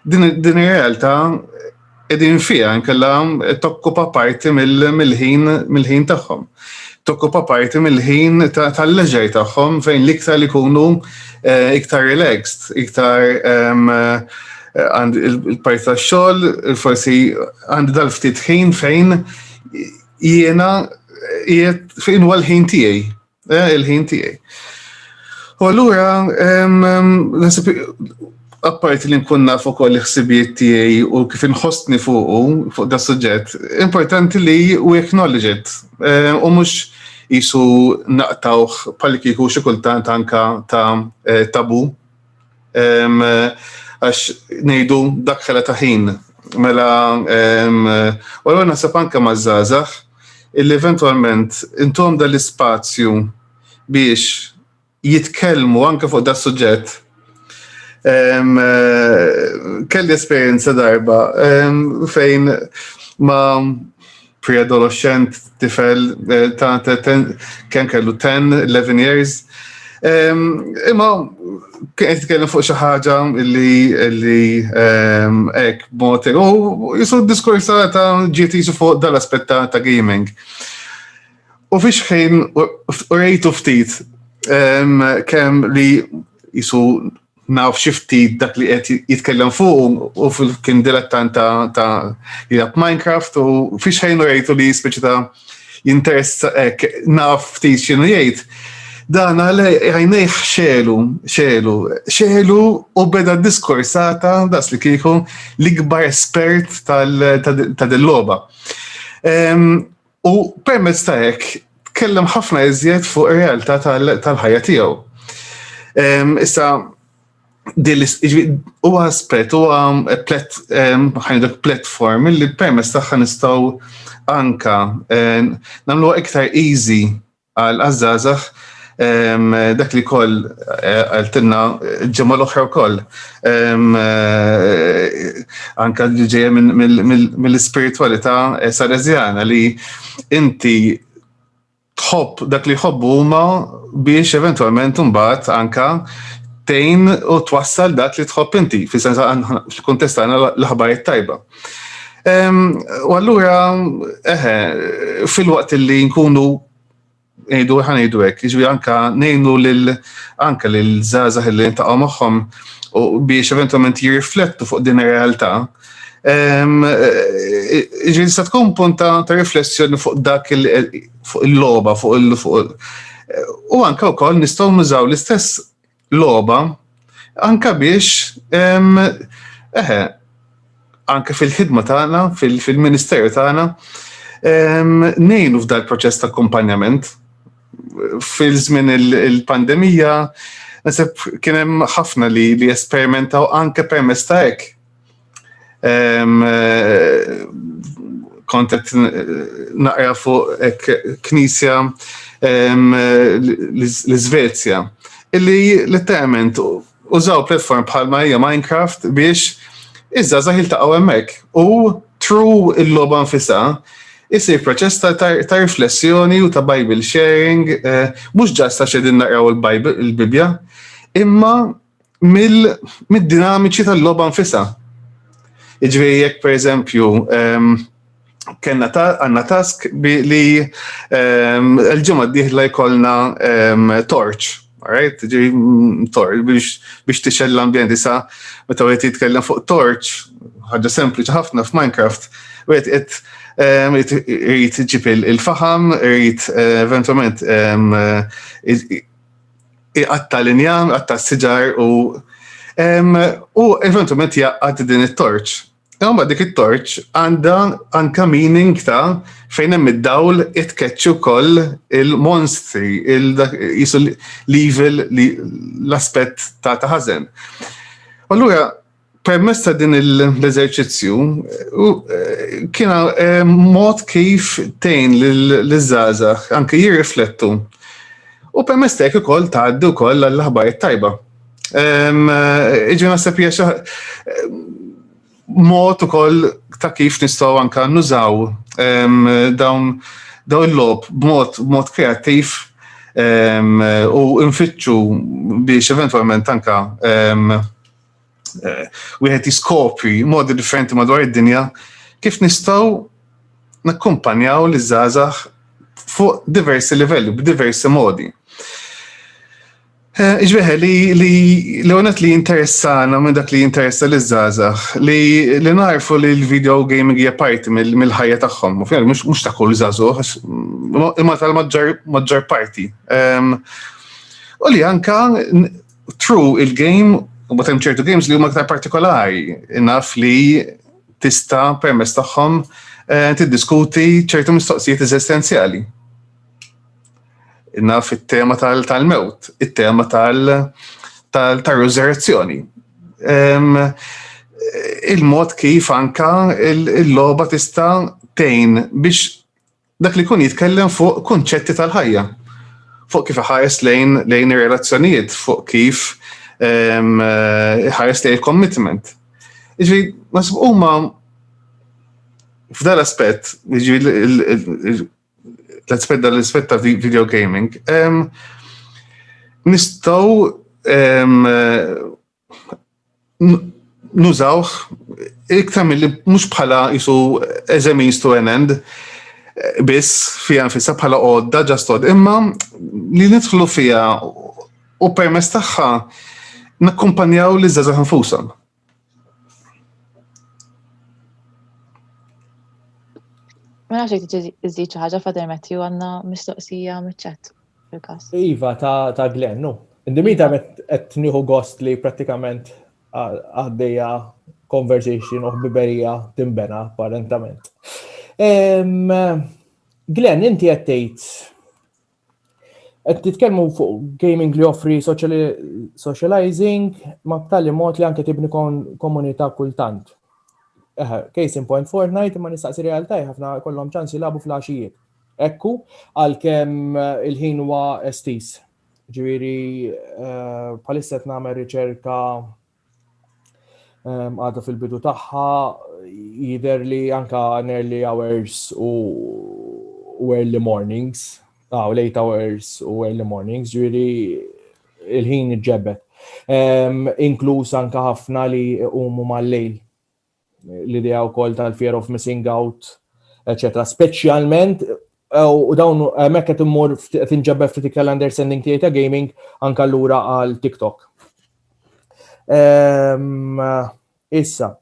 din realtà edin fija nkella tokkupa parti mill-ħin mill-ħin tagħhom. tokkupa parti mill-ħin tal-leġer tagħhom fejn l-iktar li jkunu eh, iktar relaxed, iktar ehm, eh, il-parti tax-xogħol, forsi għandi dal-ftit ħin fejn jiena jiet fejn huwa l-ħin tiegħi, eh, il-ħin tiegħi. U allura ehm, ehm, apparti li nkun naf ukoll il-ħsibijiet tiegħi u kif inħossni fuqu fuq da suġġett, importanti li u acknowledge it. Eh, u mhux jisu naqtawh bħal kieku xi kultant anka ta' eh, tabu. Għax ngħidu dak ħela ta' ħin. Mela, u l naħseb anka ma' żgħażagħ illi eventwalment intom dal-ispazju biex jitkellmu anke fuq da suġġett. Kelli esperjenza darba fejn ma pre-adolescent tifel eh, ta' kemm kellu 10, 11 years. Imma kien qed jitkellem fuq xi ħaġa li li hekk mod u jisu diskorsa ta' ġiet jisu fuq dal-aspett ta' gaming. U fiex ħin u rejtu ftit kemm li jisu naf xi ftit dak li qed jitkellem fuq u kien dilettant ta' jilab Minecraft u fiex ħin u rejtu li speċi ta' jinteressa hekk naf ftit x'inhu jgħid. Dan għale għajnejħ xelu, xelu, xelu u beda diskursata, das li kieku, l-ikbar espert tal-loba. U permezz ta' hekk tkellem ħafna iżjed fuq ir-realtà tal-ħajja tiegħu. Ehm, issa, u aspet, u ħajdu platform li permess taħħa nistaw anka namlu iktar easy għal għazzazax dak li koll eh, għaltinna ġemma l-oħra koll. Eh, anka li ġeja mill-spiritualita eh, sarezjana li inti tħobb dak li jħobbu huma biex eventualment mbagħad anka tejn u twassal dak li tħobb inti, fis-sens fil-kuntest l-ħbarijiet tajba. U allura, eħe, fil-waqt li nkunu ngħidu ħanejdu hekk, jiġri anka ngħinu lil anka lil żgħażagħ li ntaqgħu magħhom u biex eventualment jirriflettu fuq din ir-realtà. Ġi nista' tkun punta ta' riflessjoni fuq dak fuq il-logħba, fuq il- u anka wkoll nistgħu nużaw l-istess logħba anka biex eħe anke fil-ħidma tagħna, fil-ministeru tagħna, nejnu f'dal proċess ta' akkumpanjament. Fil-żmien il-pandemija, nasib kien hemm ħafna li li esperimentaw anke permess ta' hekk Kontet naqra fuq knisja l-Svezja, illi letteralment użaw platform bħal Marija Minecraft biex iżda zaħil taqaw emmek u true il-loba nfisa isir proċess ta' riflessjoni u ta' Bible sharing, eh, mux ġasta xedin naqraw il-Bibja, imma mid-dinamiċi tal-logħba nfisha. Jiġifieri jekk pereżempju ehm, kena għanna task li ehm, l-ġimgħa d-dieħla jkollna ehm, torch Alright, ġi mm, torch biex tixel l-ambjent issa meta għet jitkellem fuq torch, ħaġa sempliċi ħafna f'Minecraft, għet għet rrit ġib il-faham, rrit eh, eventualment iqatta l-injam, iqatta s-siġar u u eventualment jaqqat din it-torċ. Imma dik it-torċ għandha anka meaning ta' fejn hemm id-dawl itkeċċu koll il-monstri, il-evil l-aspett ta' taħazen. Allura, permess ta' din l-eżerċizzju kiena eh, mod kif tejn l-żaza anke jirriflettu u permess ta' ukoll tgħaddi wkoll għall-aħbar tajba. Ehm, eh, Iġi naħseb hija eh, mod ukoll ta' kif nistgħu anke nużaw ehm, dawn dawn il-lob b'mod kreattiv ehm, u nfittxu biex eventualment anka eh, wieħed jiskopri modi differenti madwar id-dinja kif nistgħu nakkumpanjaw li żgħażagħ fuq diversi livelli, b'diversi modi. Eh, Iġveħe li li li għonet li interessana minn dak li interessa li zazax, li li narfu li l-video gaming hija parti mill-ħajja tagħhom, u fjer mhux ta' kull zazuħ, imma tal-maġġar parti. Ehm, u li anka True, il-game, u batem ċertu games li huma aktar partikolari, naf li tista permess tagħhom eh, tiddiskuti ċertu mistoqsijiet eżistenzjali. Naf it-tema tal-mewt, it-tema tal-resurrezzjoni. Il-mod kif anka il-loba tista' tejn biex Dak li jkun jitkellem fuq kunċetti tal-ħajja, fuq kif iħares lejn lejn ir-relazzjonijiet, fuq kif ehm, iħares lejn il-commitment. Ġifieri, nasib huma f'dal aspett, ġifieri l-aspett dal-aspett ta' video gaming, ehm, nistgħu ehm, nużawh iktar mill-li mhux bħala jisu as a means to an end biss fija nfissa bħala għodda ġastod imma li nidħlu fija u permess tagħha nakkumpanjaw li żgħażagħ nfusam. Ma nafx jek iżid xi ħaġa fader Matthew għandna mistoqsija miċ-ċat. fil-każ. Iva ta' Glenn, no. Indimita iva. qed nieħu gost li prattikament għaddejja conversation u ħbiberija timbena apparentament. Glenn, inti qed tgħid qed titkellmu fuq gaming li offri socializing ma b'tali mod li anke tibni komunità kultant. Case in point Fortnite ma nistaqsi realtà ħafna kollhom ċans jilagħbu fl-għaxijiet. Ekku, għalkemm il-ħin huwa estiż. Ġifieri eh, bħalissa qed nagħmel riċerka ehm, għadha fil-bidu tagħha jidher li anka early hours u early mornings, ah, late hours u early mornings, ġifieri il-ħin iġġebbet. Ehm, inkluż anka ħafna li huma mal-lejl l-idea wkoll tal-fear of missing out, eċetera. Speċjalment u dawn hemmhekk qed immur tinġabba ftit iktar l-understanding tiegħi ta' gaming anke lura għal TikTok. Ehm, issa,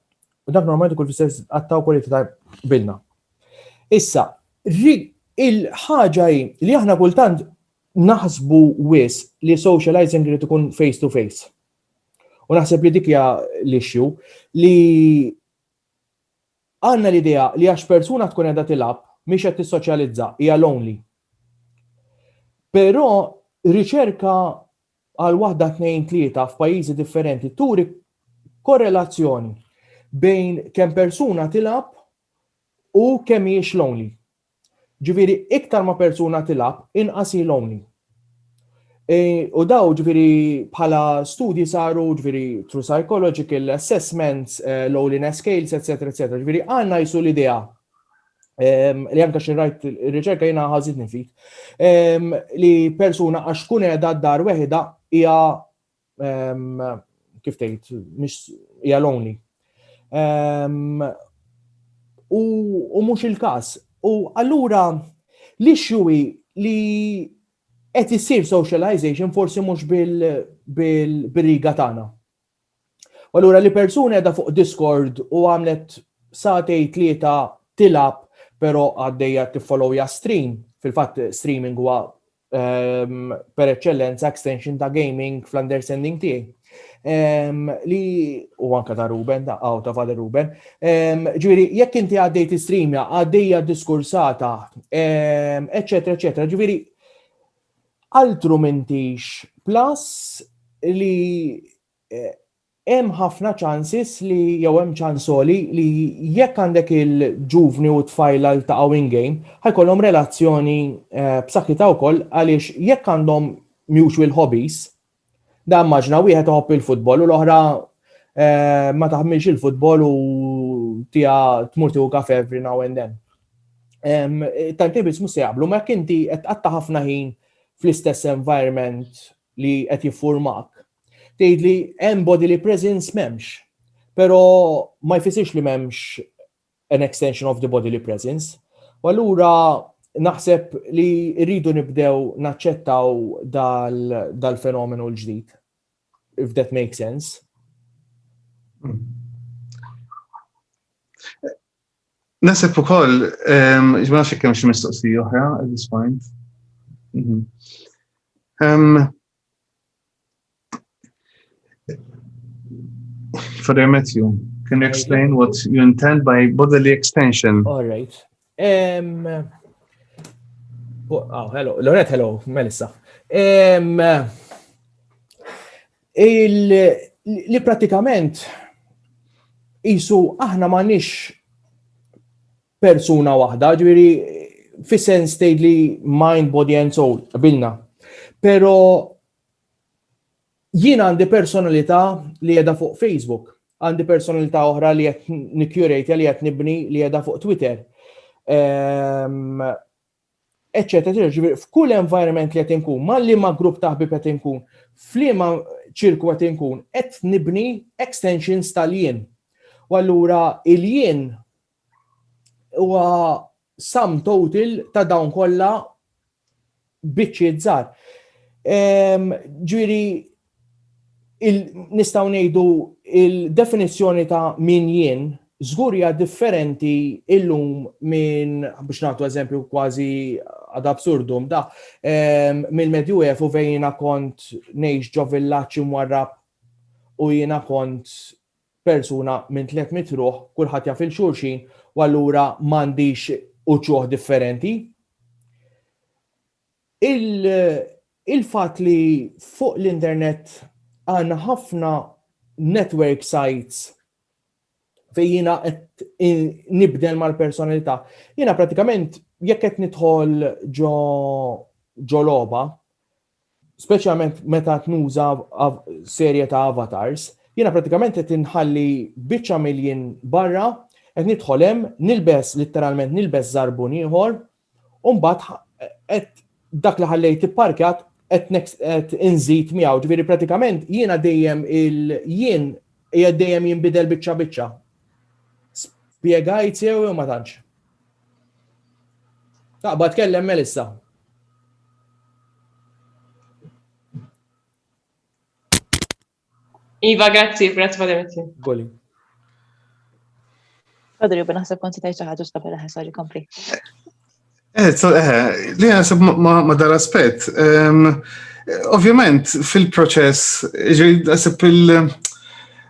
dak normalment kull fissess għatta u kwalità ta' bilna. Issa, il-ħaġa li aħna kultant naħsbu wis li socializing li tkun face to face. U naħseb li dik hija l-issue li għandna l-idea li għax persuna tkun qiegħda tilab mhix qed tissoċjalizza, hija lonely. Però riċerka għal waħda tnejn tlieta f'pajjiżi differenti turi korrelazzjoni bejn kemm persuna tilab u kemm hiex lonely. Ġifieri iktar ma persuna tilgħab inqas hi lonely. U daw ġifieri bħala studji saru ġifieri through psychological assessments, eh, loneliness scales, etc. etc. Ġifieri għandna jisu l-idea ehm, li anka xi rajt ir-riċerka jiena ħażitni fik, ehm, li persuna għax tkun qiegħda d-dar weħida hija kif tgħid, mhix hija lonely. U mhux il-każ. U allura li xjuwi li qed issir socialization forsi mhux bil-riga tagħna. U allura li persuni għedha fuq Discord u għamlet satej tlieta tilab pero għaddejja tiffollowja stream, fil-fatt streaming huwa ehm, per eċċellenza extension ta' gaming fl-understanding tiegħi. Ehm, li u anka ta' Ruben, ta' għaw ta' Father Ruben. Ehm, ġviri, jekk inti għaddejt streamja, għaddejja diskursata, eccetera, eccetera. Ġviri, altru mintix plus li hemm ħafna chances li, jew hemm ċans għoli li jekk għandek il-ġuvni u t-tfajla ltaqgħu in game, ħa jkollhom relazzjoni b'saħħitha wkoll għaliex jekk għandhom mutual hobbies, da immaġina wieħed iħobb il-futbol u l-oħra ma taħmilx il-futbol u tiha tmur tieħu kafe every now and then. Tajn tibis mhux se jaqblu, ma jekk inti qed qatta' ħafna ħin fl-istess environment li qed jiffurmak. Tgħidli hemm bodily presence m'hemmx. Però ma jfissirx li m'hemmx an extension of the bodily presence. U allura naħseb li rridu nibdew naċċettaw dal-fenomenu l-ġdid, if that makes sense. Nasib ukoll, ehm, ma nafx kemm xi mistoqsija oħra at this point. Mhm. Ehm, for the Matthew, can you explain what you intend by bodily extension? All right. Um, oh, hello. Lorette, hello. Melissa. Um, Li pratikament jisu aħna ma nix persuna waħda, ġviri fi sens tgħid li mind, body and soul, bilna. Pero jien għandi personalità li jeda fuq Facebook, għandi personalità oħra li qed nikjurejt li qed nibni li jeda fuq Twitter. Ehm, eċċetera, eċċetera, ġifieri f'kull environment li qed inkun, ma' liema grupp ta' ħbieb qed inkun, f'liema ċirku qed inkun, qed nibni extensions tal-jien. U allura il-jien huwa sum total ta' dawn kollha biċċiet żgħar. Ehm, ġifieri nistgħu ngħidu il-definizzjoni ta' min jien żgur hija differenti illum minn biex nagħtu eżempju kważi ad absurdum da ehm, mill-Medju Evu fejn jiena kont ngħix ġo villaġġ imwarrab u jiena kont persuna minn tliet mitruħ, kulħadd jaf il xulxin u allura m'għandix uċuħ differenti. Il-fatt li fuq l-internet għandna ħafna network sites fejn jiena qed nibdel mal-personalità. Jiena prattikament jekk qed nidħol ġo ġo logħba, speċjalment meta qed nuża serje ta' avatars, jiena prattikament qed inħalli biċċa mill-jien barra, qed nidħol hemm, nilbes, litteralment nilbes żarbun ieħor, U mbagħad dak li ħallejt ipparkjat qed next qed inżid miegħu, ġifieri pratikament jiena dejjem il-jien hija dejjem jinbidel biċċa biċċa. Spjegajt sew ma tantx. Taqba tkellem Melissa. Iva, grazzi, grazzi Padre Mitzi. Goli. Padre, jubba naħseb konti tajċa ħagġu stabel ħe, sorry, kompli. Eh, eh, li għasab ma dar aspet. Ehm, ovvjament, fil-proċess, għasab il-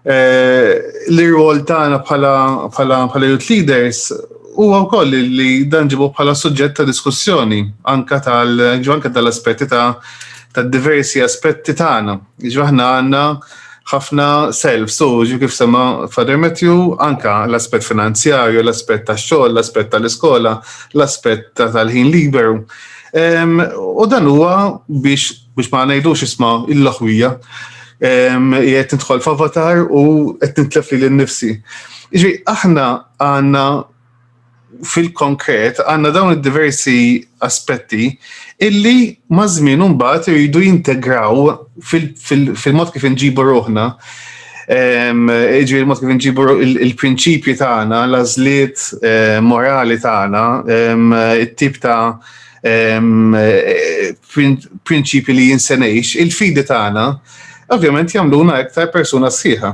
eh, l-rwol tagħna bħala youth leaders huwa wkoll li dan ġibu bħala suġġett ta' diskussjoni anka tal-aspetti ta' diversi aspetti tagħna. Ġifieri aħna għandna ħafna self, so ġu kif sema Father Matthew, anka l-aspett finanzjarju, l-aspett tax-xogħol, l-aspett tal-iskola, l-aspett tal-ħin liberu. U dan huwa biex biex ma ngħidux isma' il-laħwija jgħet nidħol f'avatar u qed nitlef li l-nifsi. Iġi, aħna għanna fil-konkret għandna dawn id-diversi aspetti illi ma' żmien imbagħad iridu jintegraw fil-mod kif inġibu ruħna. Ehm, Iġi il-mod kif inġibu il-prinċipji tagħna, l-għażliet eh, morali tagħna, ehm, it-tip ta' ehm, eh, prinċipji li jinsenejx, il-fidi tagħna, ovvjament jagħmluna iktar persuna sħiħa.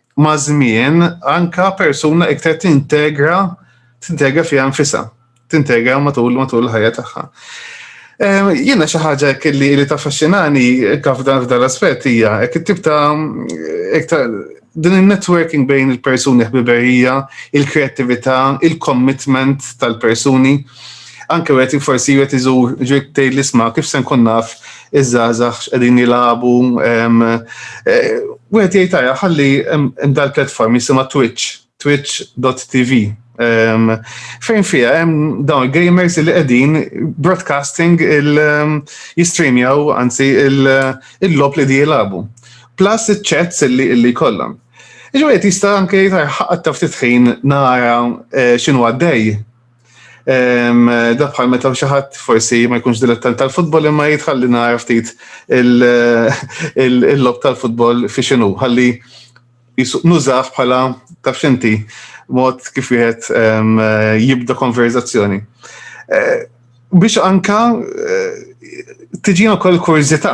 maż-żmien anka persuna iktar tintegra tintegra fiha nfisha, tintegra matul matul ħajja tagħha. Ehm, jiena xi ħaġa kelli li taffaxxinani kaf dan f'dan l-aspett hija hekk it-tip ta' din il-networking bejn il-persuni ħbiberija, il-kreativita, il-commitment tal-persuni, anke għet forsi għet iżur ġiet tgħid l-isma kif se nkun naf iż-żgħażagħ x'qegħdin jilagħbu. Eh, wieħed jgħid tajja ħalli hemm dal-platform jisimha Twitch, twitch.tv. Fejn fija hemm dawn gamers li qegħdin broadcasting il-jistreamjaw anzi il-lob li di jilagħbu. Plus iċ-chats li kollhom. Iġu qed jista' anke jgħid ħaqqat taf titħin nara eh, x'inhu għaddej Da bħal meta xi ħadd forsi ma jkunx dilettant tal-futbol imma jitħalli nagħraf ftit il-lob tal-futbol fi xinu, ħalli nużaf bħala taf xinti mod kif wieħed jibda konverzazzjoni. Eh, biex anka eh, tiġina kol kurzita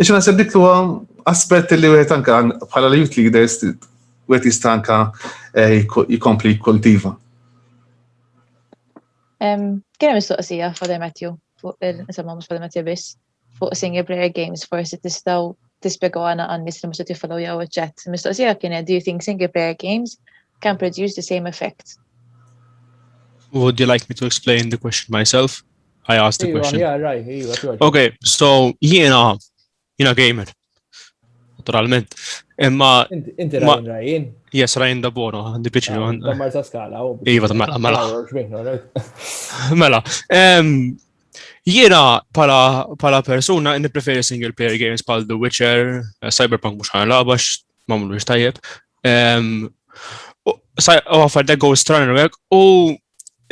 Ix naħseb dik huwa aspett li wieħed anka bħala l-youth leaders wieħed jista' anka eh, jkompli jikkultiva. Kien hemm mistoqsija Father Matthew fuq il-insomma mhux Father Matthew biss fuq single player games forsi tistgħu tispjegaw għana għan-nies li mhux qed jiffollow jew iċ-chat. Mistoqsija kienet do you think single player games can produce the same effect? Would you like me to explain the question myself? I asked the question. Yeah, right, iva, Okay, so jiena, jiena gamer. Naturalment. Imma. Inti Ryan Ryan? Yes, Ryan da Bono, għandi piċi. Ah, ta' marza skala. Oh, iva, ta' mela, mela. Ah, mela. Jiena pala persuna nipreferi single player games pal The Witcher, eh, Cyberpunk mux ħana labax, mamlu tajjeb. U għafar da Ghost Runner u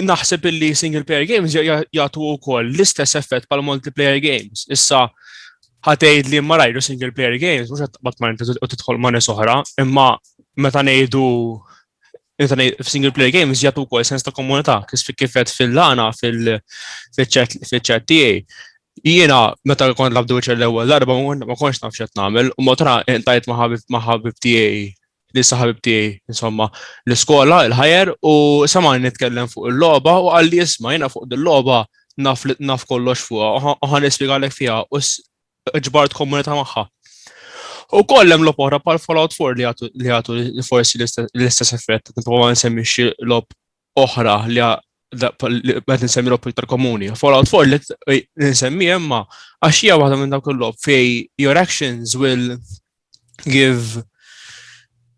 naħseb illi single player games jagħtu wkoll l-istess effett pal multiplayer games. Issa ħatgħid li ma rajdu single player games mhux qed taqbad ma' inti u tidħol ma' nies oħra, imma meta ngħidu single player games jgħatu kol sens ta' komunità, kifet fil-lana, fil-ċet tiegħi. Jiena meta kont labdu ċell ewwel darba ma konx naf x'qed nagħmel u motra intajt ma' ħabib tiegħi li saħabib tiegħi insomma l-iskola, il-ħajer u samani nitkellem fuq il-logħba u qal li isma' jiena fuq il-logħba naf li naf kollox fuqha u ħan nispjegalek fiha u ġbart komunità magħha. U kollem l oħra pal Fallout 4 li għatu forsi l-istess effett, nipprova nsemmixxi l-op oħra li qed nsemmi l iktar komuni. Fallout 4 li nsemmi imma għax hija waħda minn dawk il-lob fej your actions will give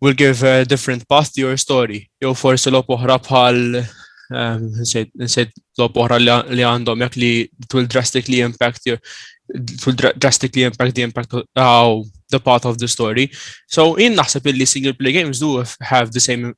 will give a different path to your story. Jew forsi lob oħra bħal ehm, nsejt lob oħra li għandhom jekk li it will drastically impact your it will drastically impact the impact of oh, the path of the story. So in naħseb illi single play games do have the same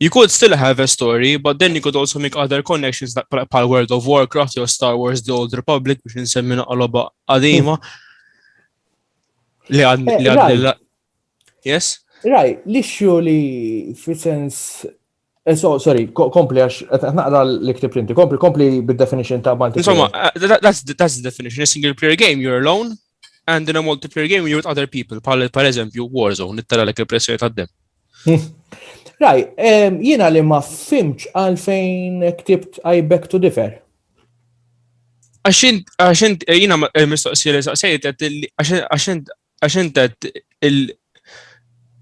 You could still have a story, but then you could also make other connections like pal World of Warcraft jew Star Wars The Old Republic biex nsemmi naqloba qadima. Li għad li għad eh, Yes? Raj, l-issue li fi sens eh, So, sorry, kompli għax, eh, naqra l-iktib inti, kompli, kompli bid-definition ta' multiplayer. Insomma, that's, that's the definition. A single player game, you're alone, and in a multiplayer game, you're with other people, pal, per eżempju, Warzone, nittara l-ek il-pressjoni ta' dem. Raj, jiena li ma fimċ għalfejn ktibt I beg to differ. Għaxint, jiena eh, mistoqsi li saqsejt, għaxint, għaxint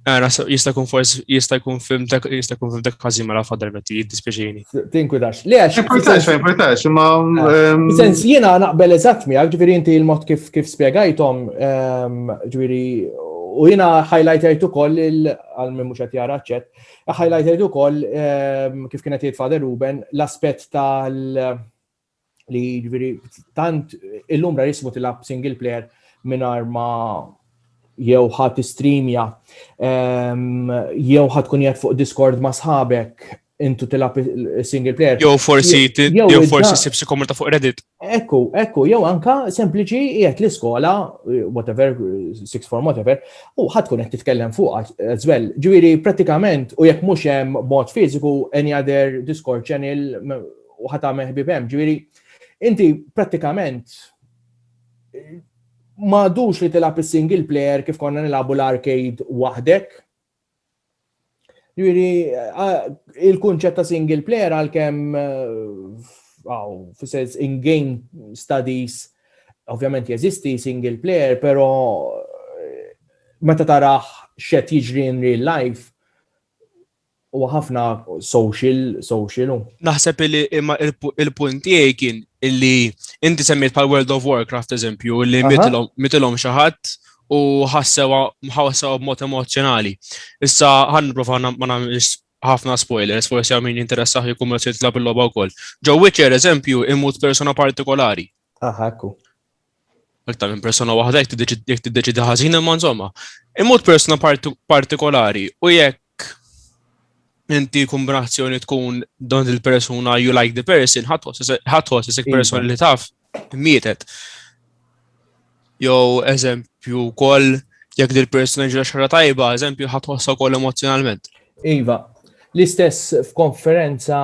Għara, jista kun forse, jista kun film, jista kun film dak kważi mela fadar metti, jiddispieċini. Tinkwidax. Le għax. Tinkwidax, tinkwidax, ma. Ehm, sens jiena naqbel eżatt miegħek, ġifieri inti l-mod kif kif spjegajthom, ehm, ġifieri u jiena highlightajt ukoll għal minn mhux qed jara ċett, highlightajt ukoll ehm, kif kienet jgħid Father Ruben l-aspett tal li ġviri tant illum ra jismu tilab single player minar ma jew ħat streamja ehm, jew ħat kun jgħat fuq Discord ma sħabek intu tilab single player. Jew forsi jew forsi sibsi komunità fuq Reddit. Ekku, ekku, jew anka sempliċi qiegħed l-iskola, whatever, six form whatever, u ħadd kun qed titkellem fuq as well. Ġifieri pratikament u jekk mhux hemm mod fiżiku any other Discord channel u ħa tagħmel ħbieb hemm. Ġifieri inti prattikament ma għadux li tilgħab is-single player kif konna nilagħbu l-arcade waħdek. Ġifieri il-kunċett ta' single player għalkemm għaw, fissez in-game studies, ovvjament jeżisti single player, pero meta taraħ xet jiġri in real life, Huwa ħafna social, social. Naħseb li imma il-punt tiegħi kien illi inti semmiet pal World of Warcraft eżempju li mitilhom xi ħadd u ħassewa ħassewa b'mod emozjonali. Issa ħan nipprova ma nagħmilx ħafna spoilers, forsi għaw min jinteressaħ jkun meta jitlab il-logħba wkoll. Ġo Witcher eżempju imut persona partikolari. Aha, ekku. Iktar minn persuna waħda jekk tiddeċidi ħażin imma insomma, imut persuna partikolari u jekk inti kumbrazzjoni tkun don il-persuna you like the person, ħatħos isek persona li taf mietet. Jow, eżempju, kol, jek dil persuna ġra xarra tajba, eżempju, ħatħossa kol emozjonalment. Iva, l-istess f'konferenza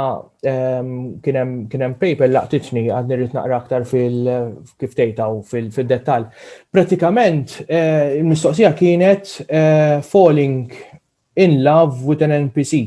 ehm, kien hemm paper laqtitni għad nirrit naqra aktar fil-kif tejtaw fil-dettal. Pratikament, eh, il-mistoqsija kienet eh, falling in love with an NPC.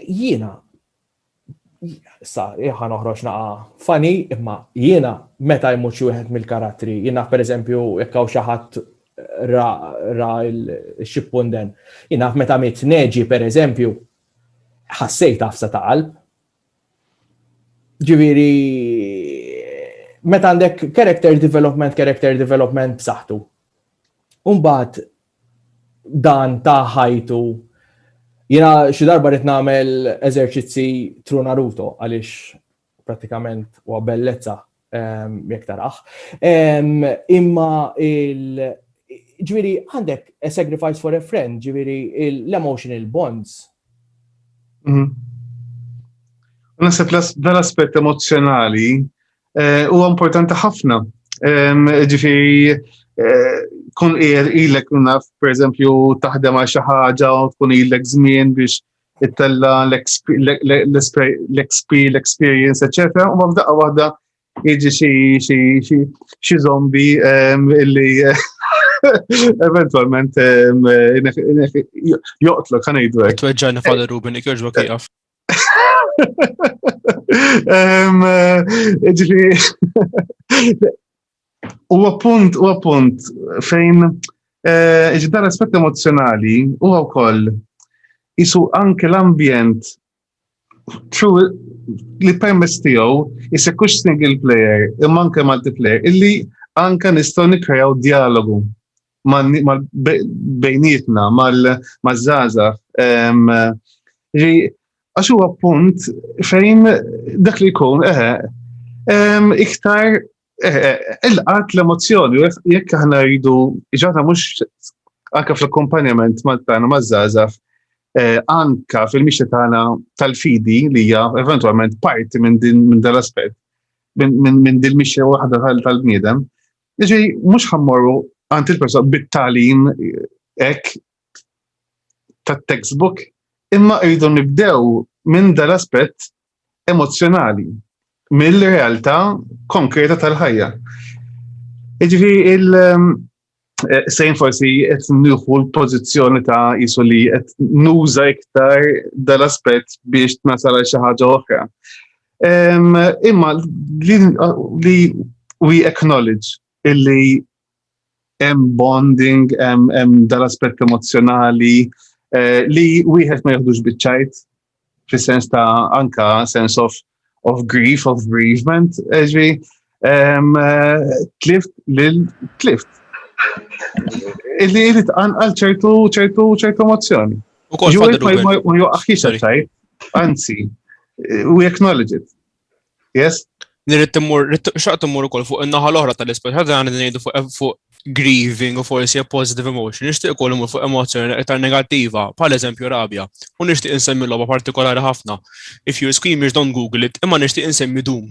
Jiena sa jħa noħroġ naqa fani imma jiena meta jmut xi wieħed mill-karattri jiena pereżempju jekk hawn xi ħadd ra, ra l-xippunden. Jiena meta mit neġi pereżempju ħassejt għafsa ta' qalb. Ġifieri meta għandek character development, character development b'saħħtu. Umbagħad dan ta' ħajtu Jena xi darba rrit nagħmel eżerċizzi tru Naruto għaliex pratikament huwa bellezza ehm, jekk taraħ. Ehm, imma il ġviri għandek a sacrifice for a friend, ġviri l-emotional bonds. Mhm. Nasib dal-aspett emozjonali Eh, huwa importanti ħafna. Ġifieri eh, kun qiegħed ilek naf pereżempju taħdem għal xi ħaġa u tkun ilek żmien biex ittella l-XP, l-experience, etc. U ma f'daqqa waħda iġi xi zombi illi eventualment joqtlu kan id-dwek. Tweġġani fadar Ruben, ikjoġbok jgħaf. U appunt, u appunt, fejn eh, ġdar aspett emozjonali u wkoll jisu anke l-ambjent li permess tiegħu jisekux single player imma anke multiplayer illi anke nistgħu nikkrejaw dialogu bejnietna, mal-żaza. Għax huwa punt fejn dak li jkun, eħe, iktar il-qat l-emozjoni, jekk aħna rridu, ġata mux anka fl-akkompanjament mal-tana maż-żaza, eh, anka fil-mixja tagħna tal-fidi li hija eventwalment parti minn din minn dal-aspett, minn din mixja waħda tal-bniedem, Jiġi, mhux ħammorru għand il-persuna bit-talim hekk tat-textbook, imma rridu nibdew minn dal-aspett emozzjonali, mill-realtà konkreta tal-ħajja. Jiġri il- ehm, eh, sejn forsi qed nieħu l-pożizzjoni ta' jisu li qed nuża iktar dal-aspett biex tnasal xi ħaġa oħra. Imma li we acknowledge illi hemm bonding, hemm dal-aspett emozjonali eh, li wieħed ma jaħdux biċċajt fis-sens ta' anka sens of of grief, of bereavement, eh, ġvi, Tlift lil tlift. Illi jrid għal ċertu ċertu ċertu mozzjoni. U kol ma joqaħħiex għal anzi, we acknowledge it. Yes? Nirrit timmur, xaq timmur ukoll fuq in-naħa l-oħra tal-ispeċ, ħadda għan ngħidu eh, fuq grieving u forsi a positive emotion, nixtieq ukoll imur fuq emozzjoni iktar negattiva, bħal eżempju rabja, u nixtieq insemmi logħba partikolari ħafna. If you scream, don't google it, imma nixtieq insemmi dum.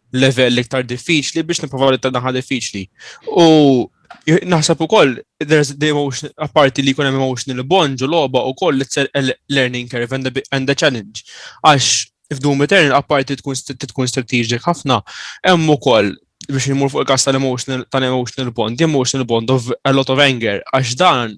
level iktar diffiċli biex niprofa li tadaħa diffiċli. U naħseb ukoll there's the emotion apparti li jkun hemm emotional bond u logħba ukoll it's a learning curve and the, and the challenge. Għax f'Doom Eternal apparti tkun tkun strategic ħafna hemm ukoll biex imur fuq il-kas tal-emotional tal-emotional bond, emotional bond of a lot of anger, għax dan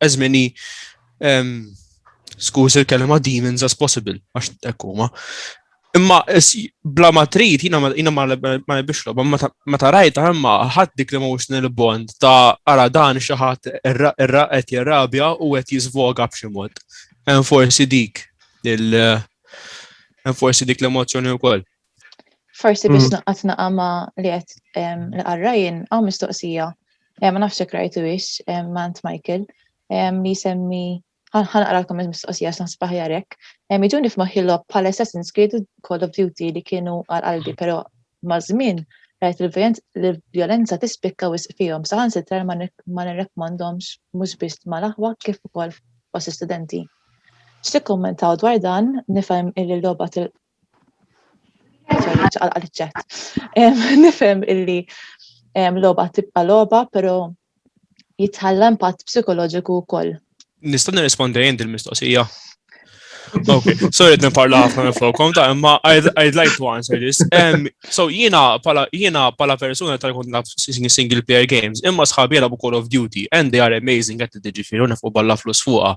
as many um, skuż il-kelma demons as possible, għax ekkuma. Imma bla ma trid, jina ma nebix loba, ma ta' rajta imma ħadd dik l-emotional bond ta' ara dan xi ħadd qed jirrabja u qed jiżvoga b'xi mod. Hemm forsi dik il forsi dik l-emozzjoni wkoll. Forsi biex mm. naqat naqa ma li għet li għarrajin, għaw mistoqsija, ma nafx jek rajtu biex, ma ant Michael, li semmi ħanqra l komment mistoqsija x'na spaħjarek. Iġuni f'maħħi lob bħal Assassin's Creed Call of Duty li kienu għal qalbi, mm. pero ma' żmien rajt il-violenza tispikka wisq fihom saħan sitra ma nirrekomandomx mhux biss mal-aħwa kif ukoll fost studenti. X'tikkummentaw dwar dan nifhem il-logħba Nifhem illi loba tibqa' loba, pero jitħalla impatt psikoloġiku wkoll. Nista' nirrispondi jien il-mistoqsija. Okay, sorry qed nipparla ħafna minn fuqkom ta' imma I'd like to answer this. Um, so jiena pala jiena pala persuna tal kont naf single player games, imma sħabi jilagħbu Call of Duty and they are amazing qed tiġifieri u nefqu balla flus fuqha.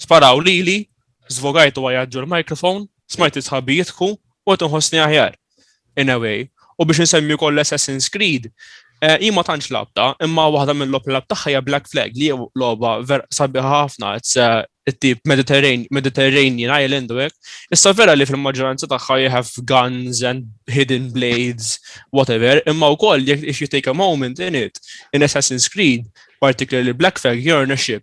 Sparaw lili, zvogajt u għajadġu l-mikrofon, smajt isħabi jitku u tinħossni aħjar. In a way, u biex nsemmi koll Assassin's Creed, eh, jima tantx labta, imma waħda mill-lop lab taħħa Black Flag li loba ver sabiħa ħafna, it's eh, tip Mediterranean, Mediterranean Island u hekk. Issa vera li fil-maġġoranza tagħha you have guns and hidden blades, whatever, imma wkoll if you take a moment in it, in Assassin's Creed, particularly Black Flag, you're in a ship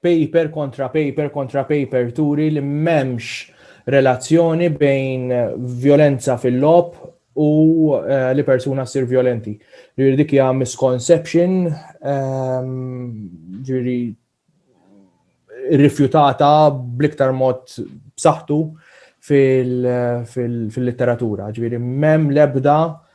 Paper kontra paper kontra paper turi li m'hemmx relazzjoni bejn vjolenza fil-logħob u eh, li persuna ssir vjolenti. Ġifieri dik hija misconception, ehm, ġifieri rifjutata bl-iktar mod b'saħħtu fil-litteratura. Ġifieri m'hemm l-ebda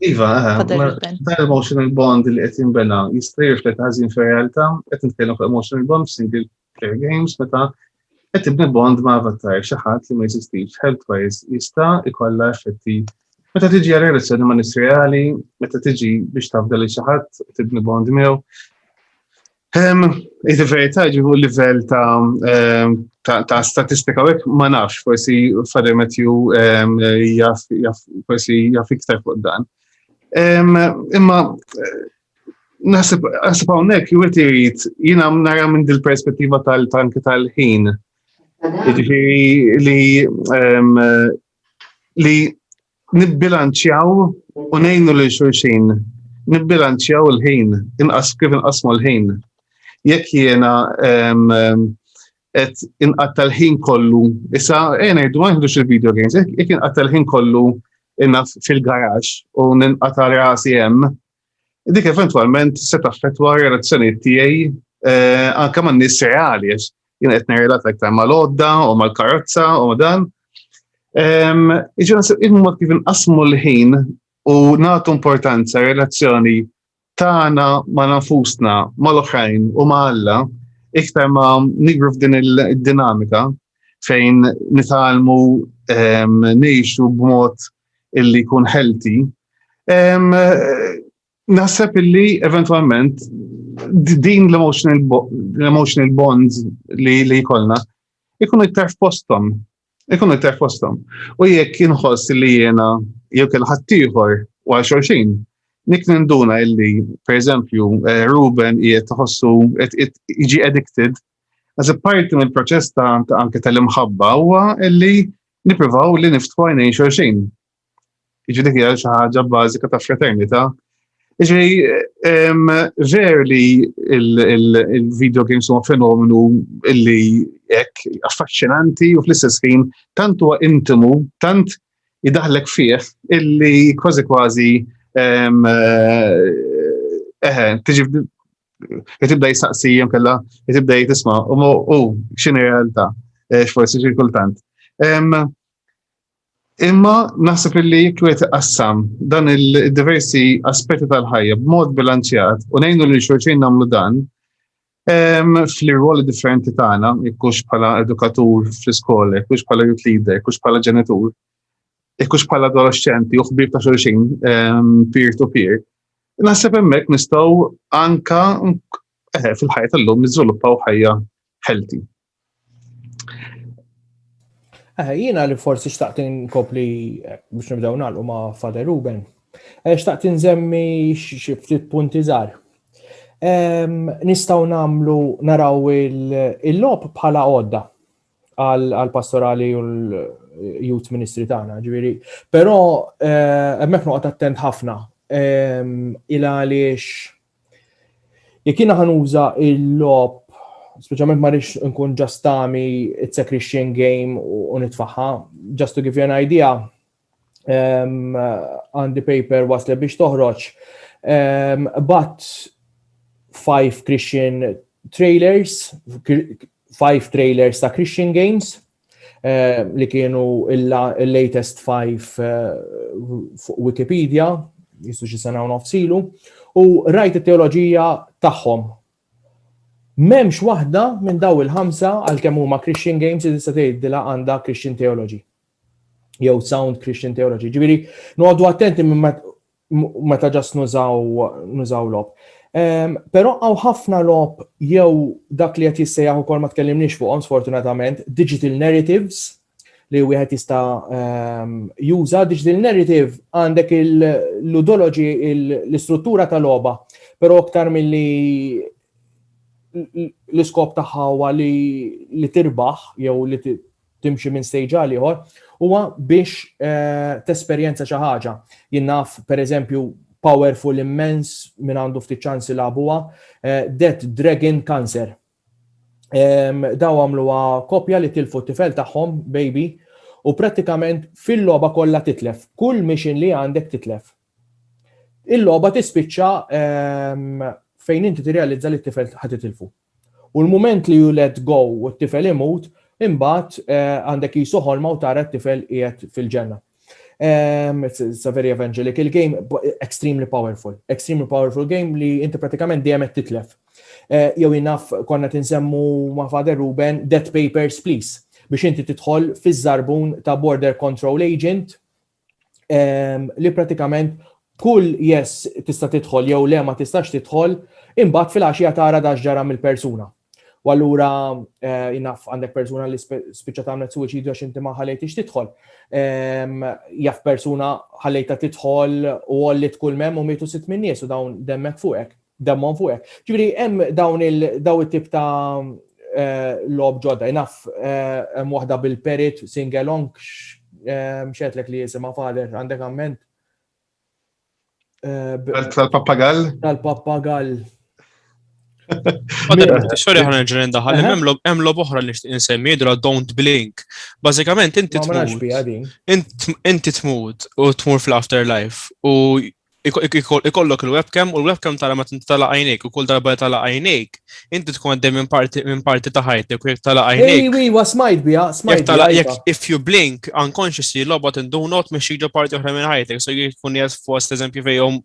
Iva, dan emotional bond li qed jinbena jista' jirflet ħażin fir-realtà, qed nitkellem fuq emotional bond single player games meta qed tibni bond ma' avatar xi ħadd li ma jeżistix health-wise jista' jkollha effetti meta tiġi relazzjoni ma' nis reali, meta tiġi biex tafda li xi ħadd tibni bond miegħu. Iżda verità ġibu livell ta' statistika għek ma nafx, forsi Father Matthew forsi jaf iktar fuq dan. Imma nasib għawnek jwet jrid jina nara minn dil-perspettiva tal-tanki tal-ħin. Ġifiri li li Nibbilanċjaw u ngħinu lil xulxin. Nibbilanċjaw il-ħin, inqas kif inqasmu l-ħin. Jekk jiena qed inqatta' l-ħin kollu, issa ejja ngħidu ma nieħdux il-video games, jekk inqatta' l-ħin kollu inaf fil-garax u ninqata' rasi hemm, Dik eventwalment se taffettwa relazzjonijiet tiegħi eh, anke man nies reali għax jien qed nirrelat aktar mal-għodda u mal-karozza u ma' dan. Iġifieri il-mod kif inqasmu l-ħin u nagħtu importanza relazzjoni tagħna ma' nafusna mal-oħrajn u ma' Alla iktar ma' nigru f'din il-dinamika fejn nitalmu nejxu b'mod illi jkun healthy. Naħseb illi eventualment din l-emotional bonds li li jkollna ikunu iktar f'postom. Ikunu iktar f'postom. U jekk inħoss li jena jew kien ħaddieħor u għal xorxin, nik ninduna illi, per eżempju, eh, Ruben jiet tħossu jiġi addicted Għaz parti minn proċess ta' anke tal-imħabba huwa li nippruvaw li niftħu għajnejn xorxin. Iġi dik hija xi ħaġa bażika ta' fraternità. Iġi ver li il-video games huma fenomenu illi hekk affaxxinanti u fl-istess ħin tant huwa intimu, tant idaħlek fih illi kważi kważi eh, eh, tiġi jtibda jistaqsi jem kella, jtibda jitisma, u mu, u, xini realtà, eh, xforsi ċirkultant. Imma naħseb illi jekk wieħed iqassam dan il-diversi aspetti tal-ħajja b'mod bilanċjat u ngħinu li xorċin nagħmlu dan fl-irwoli differenti tagħna, jekkux bħala edukatur fl-iskola, jekkux bħala youth leader, jekkux bħala ġenitur, jekkux bħala adolescenti u ħbib ta' xorċin peer to peer, Naħseb hemmhekk nistgħu anka eh, fil-ħajja tal-lum niżviluppaw ħajja healthy. Eh, jiena li forsi xtaqt inkopli eh, biex nibdew nagħlqu ma' Father Ruben. Eh, xtaqt inżemmi xi ftit punti żgħar. Ehm, nistgħu nagħmlu naraw il-lob bħala għodda. għal-pastorali u l-youth ministry tagħna, ġifieri. Però eh, hemmhekk noqgħod attent ħafna ehm, il għaliex jekk jiena ħanuża il-lob speċjalment ma rix nkun ġastami it's a Christian game u nitfaħħa, just to give you an idea, għandi um, paper wasle biex toħroġ um, but five Christian trailers, five trailers ta' Christian Games uh, li kienu il-latest five uh, fuq Wikipedia, jistu xi sena nofsilu, u rajt it-teoloġija tagħhom. Memx waħda minn daw il-ħamsa għal kemm huma Christian Games li tista' tgħidilha għandha Christian Theology. jew sound Christian theology. Ġifieri noqogħdu attenti minn meta ġas nużaw lob. Ehm, però għaw ħafna lob jew dak li qed jissejjaħ ukoll ma tkellimniex fuqhom sfortunatament, digital narratives li wieħed jista' ehm, juża digital narrative għandek il-ludology l-istruttura ta' logħba, però aktar milli l-iskop tagħha huwa li tirbaħ jew li timxi minn stage għal ieħor, huwa biex eh, tesperjenza xi ħaġa. Jien naf pereżempju powerful immens minn għandu ftit ċans ilabuha, eh, Dead Dragon Cancer. Daw għamluha kopja li tilfu tifel tagħhom, baby, u prattikament fil-logħba kollha titlef. Kull mission li għandek titlef. Il-logħba tispiċċa fejn inti tirrealizza li t-tifel ħad titilfu. U l-mument li you let go u t-tifel imut, imbagħad għandek qisu ħolma u tara t-tifel qiegħed fil-ġenna. It's a very evangelical game, extremely powerful. Extremely powerful game li inti pratikament dejjem qed titlef. Eh, jew inaf konna tinsemmu ma' Father Ruben, Dead Papers Please, biex inti tidħol fiż-żarbun ta' Border Control Agent, ehm, li pratikament kull yes tista' tidħol jew le ma tistax tidħol, imbagħad fil-għaxija tara dax ġara mill-persuna. U allura eh, jnaf għandek persuna li spiċċa tagħmel suwiċidju għax inti ma ħalejtix tidħol. Ehm, jaf persuna ħalejta tidħol u għollit kull mem u mietu sitt minn nies u dawn demmek fuqek. Demmhom fuq hekk. Ġifieri hemm dawn il daw it-tip ta' lob ġodda. Naf hemm waħda bil-perit singalong x'għedlek li jisimha fader għandek amment? Tal-pappagall? Tal-pappagall. Sorry ħana ġren daħal, hemm lob oħra li nsemmi jidra Don't Blink. Bażikament inti tmut. Inti tmut u tmur fl-afterlife u ikollok il-webcam u l-webcam tara ma tintala għajnejk u kull darba tala għajnejk, inti tkun għaddej minn parti minn parti ta' ħajtek u jekk tala għajnejk. Ej, wi, wa smajt bija, smajt. Jekk tala jekk if you blink unconsciously lobot in do not minn xi parti oħra minn ħajtek, so jkun jgħid fost eżempju fejn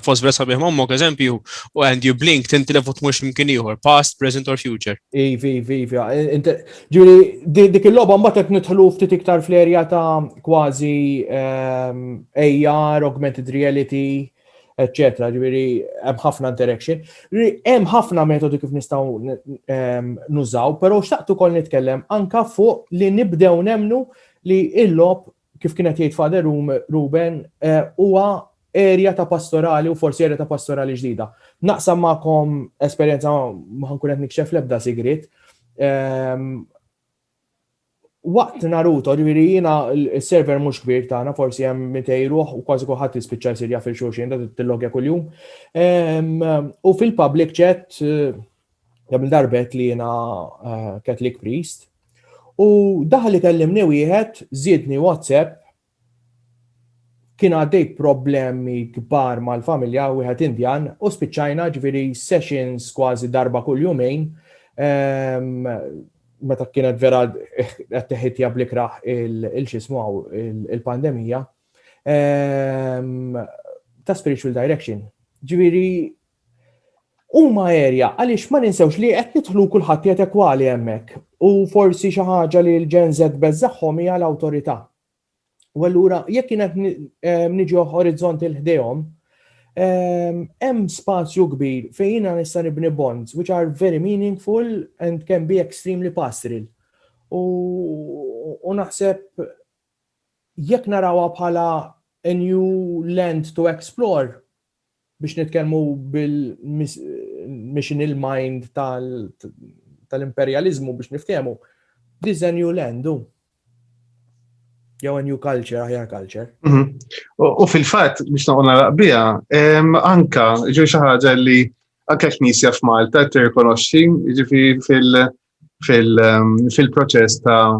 fost vera sabiħ mommok eżempju u and you blink tintilef u tmux mkien ieħor, past, present or future. Ivi, ivi, ivi, Ġiri, dik il-loba mbagħad qed nidħlu ftit iktar fl-erja ta' kważi ehm, AR, augmented reality, etc. Ġiri, hemm ħafna interaction. Ġiri, hemm ħafna metodi kif nistgħu ehm, nużaw, però xtaqt ukoll nitkellem anka fuq li nibdew nemnu li il-lob kif kien qed jgħid Father Ruben, huwa erja ta' pastorali u forsi erja ta' pastorali ġdida. Naqsam magħkom esperjenza ma ħankun qed nikxef l-ebda sigriet. Ehm, waqt Naruto, ġifieri jiena s-server mhux kbir tagħna, forsi hemm mitej ruħ u kważi kulħadd jispiċċa jsir jaf il-xulxin da tillogja kuljum. Ehm, u fil-public chat kemm darbet li jiena eh, Catholic priest, u daħal li kellimni wieħed, zidni WhatsApp, kien għaddej problemi kbar mal-familja wieħed Indjan u spiċċajna ġviri sessions kważi darba kull jumejn ehm, meta kienet vera qed teħitja blikraħ il-xismu għaw il-pandemija ehm, ta' spiritual direction. Ġviri Huma għerja għaliex ma ninsewx li qed nidħlu u kulħadd qiegħed ekwali hemmhekk u forsi xi ħaġa li l-Gen Z beżżagħhom hija l-awtorità. U allura jekk jien qed niġi orizzont il ħdejhom, hemm spazju kbir fejn jiena nista' nibni bonds which are very meaningful and can be extremely pastoral. U naħseb jekk narawha bħala a new land to explore, biex nitkellmu bil-mission il-mind tal-imperjaliżmu biex niftehmu, this is a new land, u. Jew a new culture, aħjar culture. Mhm. U fil-fatt, biex naqqa naraq bija, anka, ġu xaħġa li anka knisja f'Malta tirrikonoxxi, ġifi fil- fil-proċess ta'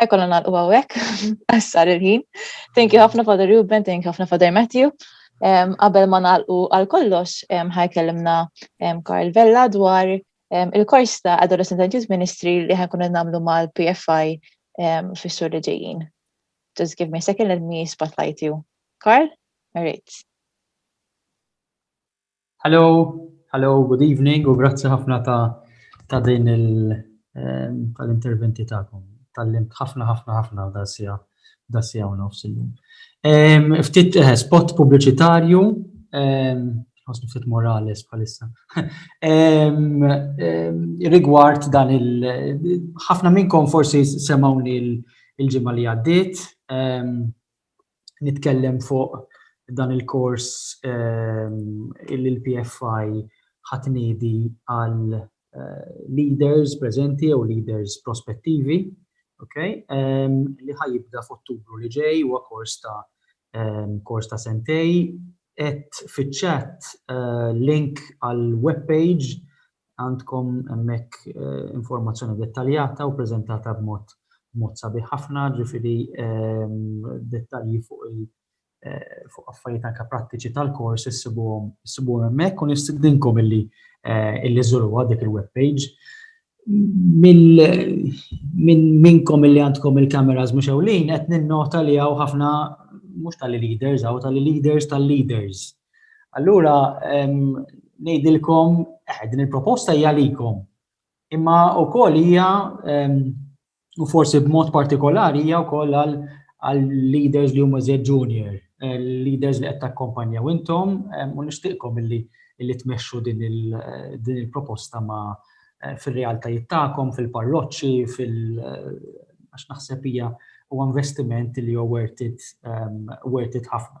Ħajkolla nagħlqu hawnhekk, għassar il-ħin. Thank you ħafna Father Ruben, thank you ħafna Father Matthew. Qabel ma nagħlqu għal kollox ħajkellimna Karl Vella dwar il-kors ta' Adolescent and Youth Ministry li ħajkun nagħmlu mal-PFI fis-sur li ġejjin. Just give me a second, let me spotlight you. Karl, all right. Hello, hello, good evening u grazzi ħafna ta' ta' din il-interventi ehm, ta'kom. Tallimt ħafna ħafna ħafna da' sija da' sija u nofs illum. Ehm, ftit eh, spot pubbliċitarju, ehm, ħosni ftit Morales bħalissa. Rigward dan il ħafna minnkom forsi semawni il-ġimgħa li għaddiet nitkellem fuq dan il-kors li l-PFI ħa tniedi għal leaders preżenti jew leaders prospettivi, okay, li ħa jibda f'Ottubru li ġej, huwa kors ta' kors ta' sentejn. Għedt fiċ-chat link għall-web page Għandkom hemmhekk informazzjoni dettaljata u preżentata b'mod b'mod sabiħ ħafna, ġifieri dettalji fuq il fuq affarijiet anke prattiċi tal-kors issibuhom issibuhom hemmhekk u nistidinkom illi illi żuruha dik il-web page. Mill minn minnkom illi għandkom il-kameras mhux ewlin qed ninnota li hawn ħafna mhux tal-leaders hawn tal-leaders tal-leaders Allura ngħidilkom eh, din il-proposta hija likom. Imma wkoll hija u forsi b'mod partikolari hija wkoll għal leaders li huma żed junior, eh, leaders li qed takkompanjaw intom u nixtieqkom illi li tmexxu din il-proposta ma eh, fil-realtajiet tagħkom, fil-parroċċi, fil eh, għax naħseb hija u investiment li huwa worth it ħafna.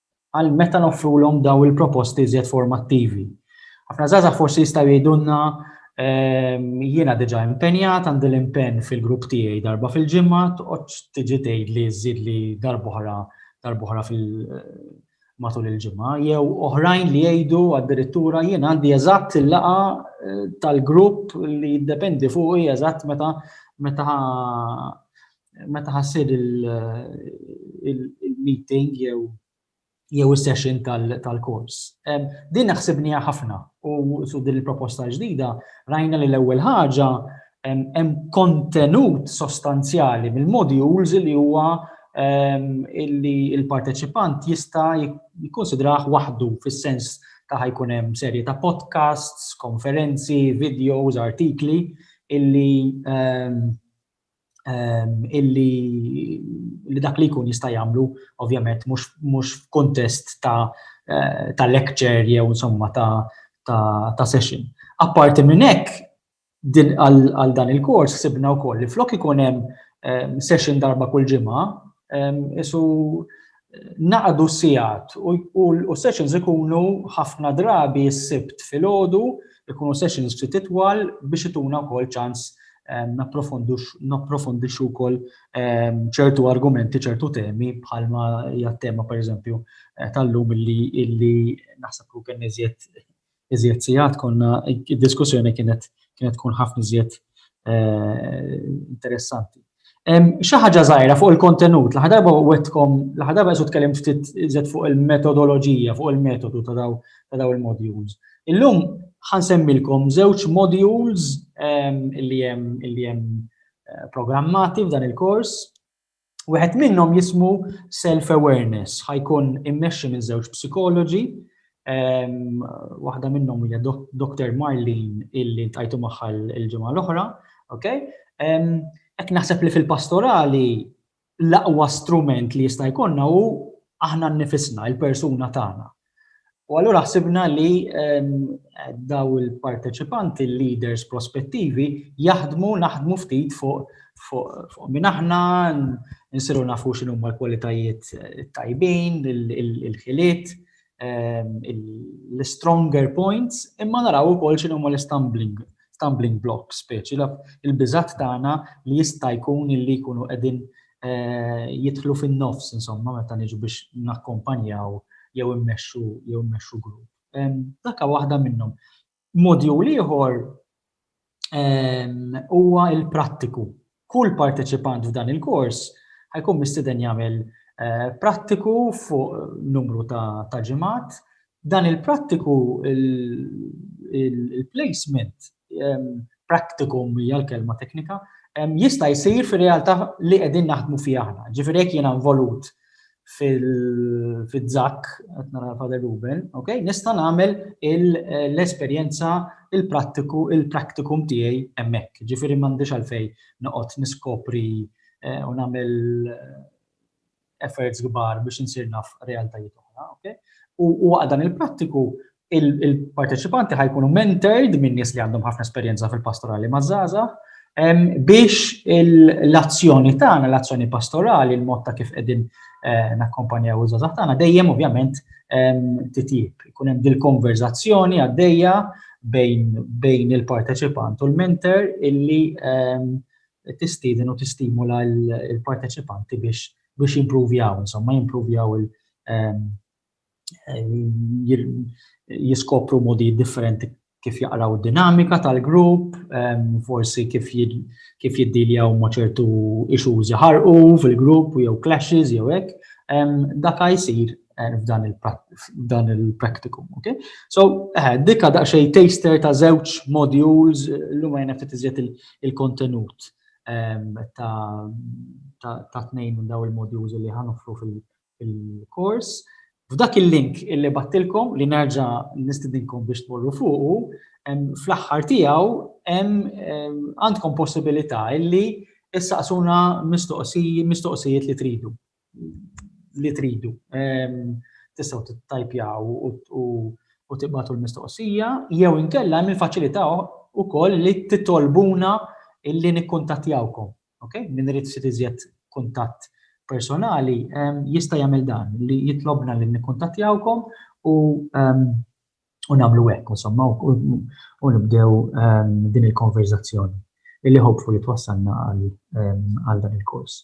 għal meta noffrulhom daw il-proposti iżjed formattivi. Ħafna żgħażagħ forsi jistgħu jgħidulna ehm, jiena diġà impenjat għandi l-impenn fil-grupp tiegħi darba fil-ġimgħa toqgħodx tiġi tgħid li żid li darbohra darbohra fil matul il-ġimgħa jew oħrajn li jgħidu addirittura jien għandi eżatt il-laqa eh, tal-grupp li jiddependi fuqi eżatt meta meta Meta ħassir il-meeting jew jew is-session tal-kors. Din naħsibniha ħafna u su din il-proposta ġdida rajna li l-ewwel ħaġa hemm kontenut sostanzjali mill-modules li huwa illi il-parteċipant jista' jikkonsidrah waħdu fis-sens ta' ħajkun hemm serje ta' podcasts, konferenzi, videos, artikli illi illi li dak li jkun jista' jagħmlu ovvjament mhux f'kuntest ta' lecture jew insomma ta' session. Apparti minn hekk, għal dan il-kors sibna wkoll li flok ikun hemm session darba kull ġimgħa, isu Naqgħdu sigħat u s-sessions ikunu ħafna drabi s-Sibt filgħodu, ikunu sessions ftit itwal biex ituna wkoll ċans napprofondixxu wkoll ċertu argumenti, ċertu temi bħalma hija t-tema pereżempju tal-lum illi naħseb li kien iżjed iżjed sigħat konna id-diskussjoni kienet kienet tkun ħafna iżjed eh, interessanti. Xi ħaġa żgħira fuq il-kontenut, l-ħa darba wetkom, l-ħa darba qed tkellim ftit iżjed fuq il-metodoloġija, fuq il-metodu ta' daw ta' daw il-modules. Illum ħansemmilkom żewġ modules li hemm li hemm eh, programmati f'dan il-kors. Wieħed minnhom jismu self-awareness, ħajkun immexxi minn żewġ psikoloġi, ehm, waħda minnhom hija Dr. Marlene illi tajtu magħha l-ġimgħa l-oħra, ok? Ehm, qed naħseb li fil-pastorali l-aqwa strument li jista' jkollna hu aħna nnifisna, il-persuna tagħna. U allura ħsibna li daw il-parteċipanti, il-leaders prospettivi, jaħdmu, naħdmu ftit fuq fuq minn aħna, nsiru nafu x'inhu ma l-kwalitajiet tajbin, il-ħiliet, l-stronger points, imma naraw ukoll x'inhu ma l-stumbling stumbling blocks, speċi il-biżat tagħna li jista' jkun li jkunu qegħdin jidħlu fin-nofs insomma meta niġu biex nakkompanjaw jew immexxu jew immexxu grupp. Dakka waħda minnhom. Modju ieħor huwa l-prattiku. Kull parteċipant f'dan il-kors ħajkun mistiden jagħmel eh, prattiku fuq numru ta', ta ġimgħat. Dan il-prattiku il-placement practicum hija l-kelma teknika, jista' jsir fir-realtà li qegħdin naħdmu fiha aħna. Ġifieri jekk jiena involut fil-żakk, qed nara Father Ruben, ok, nista' nagħmel l-esperjenza il-prattiku il-practicum tiegħi hemmhekk. Ġifieri m'għandix għalfejn noqgħod niskopri eh, u nagħmel efforts kbar biex insir naf realtajiet oħra, ok? U waqt dan il-prattiku, il-parteċipanti ħajkunu mentored minn nies li għandhom ħafna esperjenza fil-pastorali maż-żaza, biex l-azzjoni tagħna, l-azzjoni pastorali, il-mod ta' kif qegħdin eh, nakkompanjaw iż-żaza tagħna, dejjem ovvjament titjib. Ikun hemm dil-konverzazzjoni għaddejja bejn il-parteċipant u l-mentor illi tistieden u tistimula l-parteċipanti biex biex jimpruvjaw, insomma, jimpruvjaw il- jiskopru modi differenti kif jaqraw dinamika tal-grupp, forsi kif kif jiddiljaw ma' ċertu issues iħarqu fil-grupp jew clashes jew hekk, dak jsir eh, f'dan il-practicum, ok? So, eh, dikka daqxej taster ta' żewġ modules, l-lum għajna ftit iżjed il-kontenut ehm, ta' tnejn minn daw il-modules li ħanufru fil-kors. F'dak il-link illi battilkom li nerġa' nistidinkom biex tmorru fuqu, fl-aħħar tiegħu għandkom possibilità illi issaqsuna mistoqsijiet li tridu. li tridu. Tistgħu tittajpjaw u tibgħatu l-mistoqsija jew inkella hemm il-faċilità wkoll li titolbuna illi nikkuntattjawkom. Okay? Min irid ftit iżjed kuntatt personali jista' jagħmel dan li jitlobna li nikkuntattjawkom u u nagħmlu hekk insomma u nibdew din il-konverżazzjoni illi hopefully twassalna għal dan il-kors.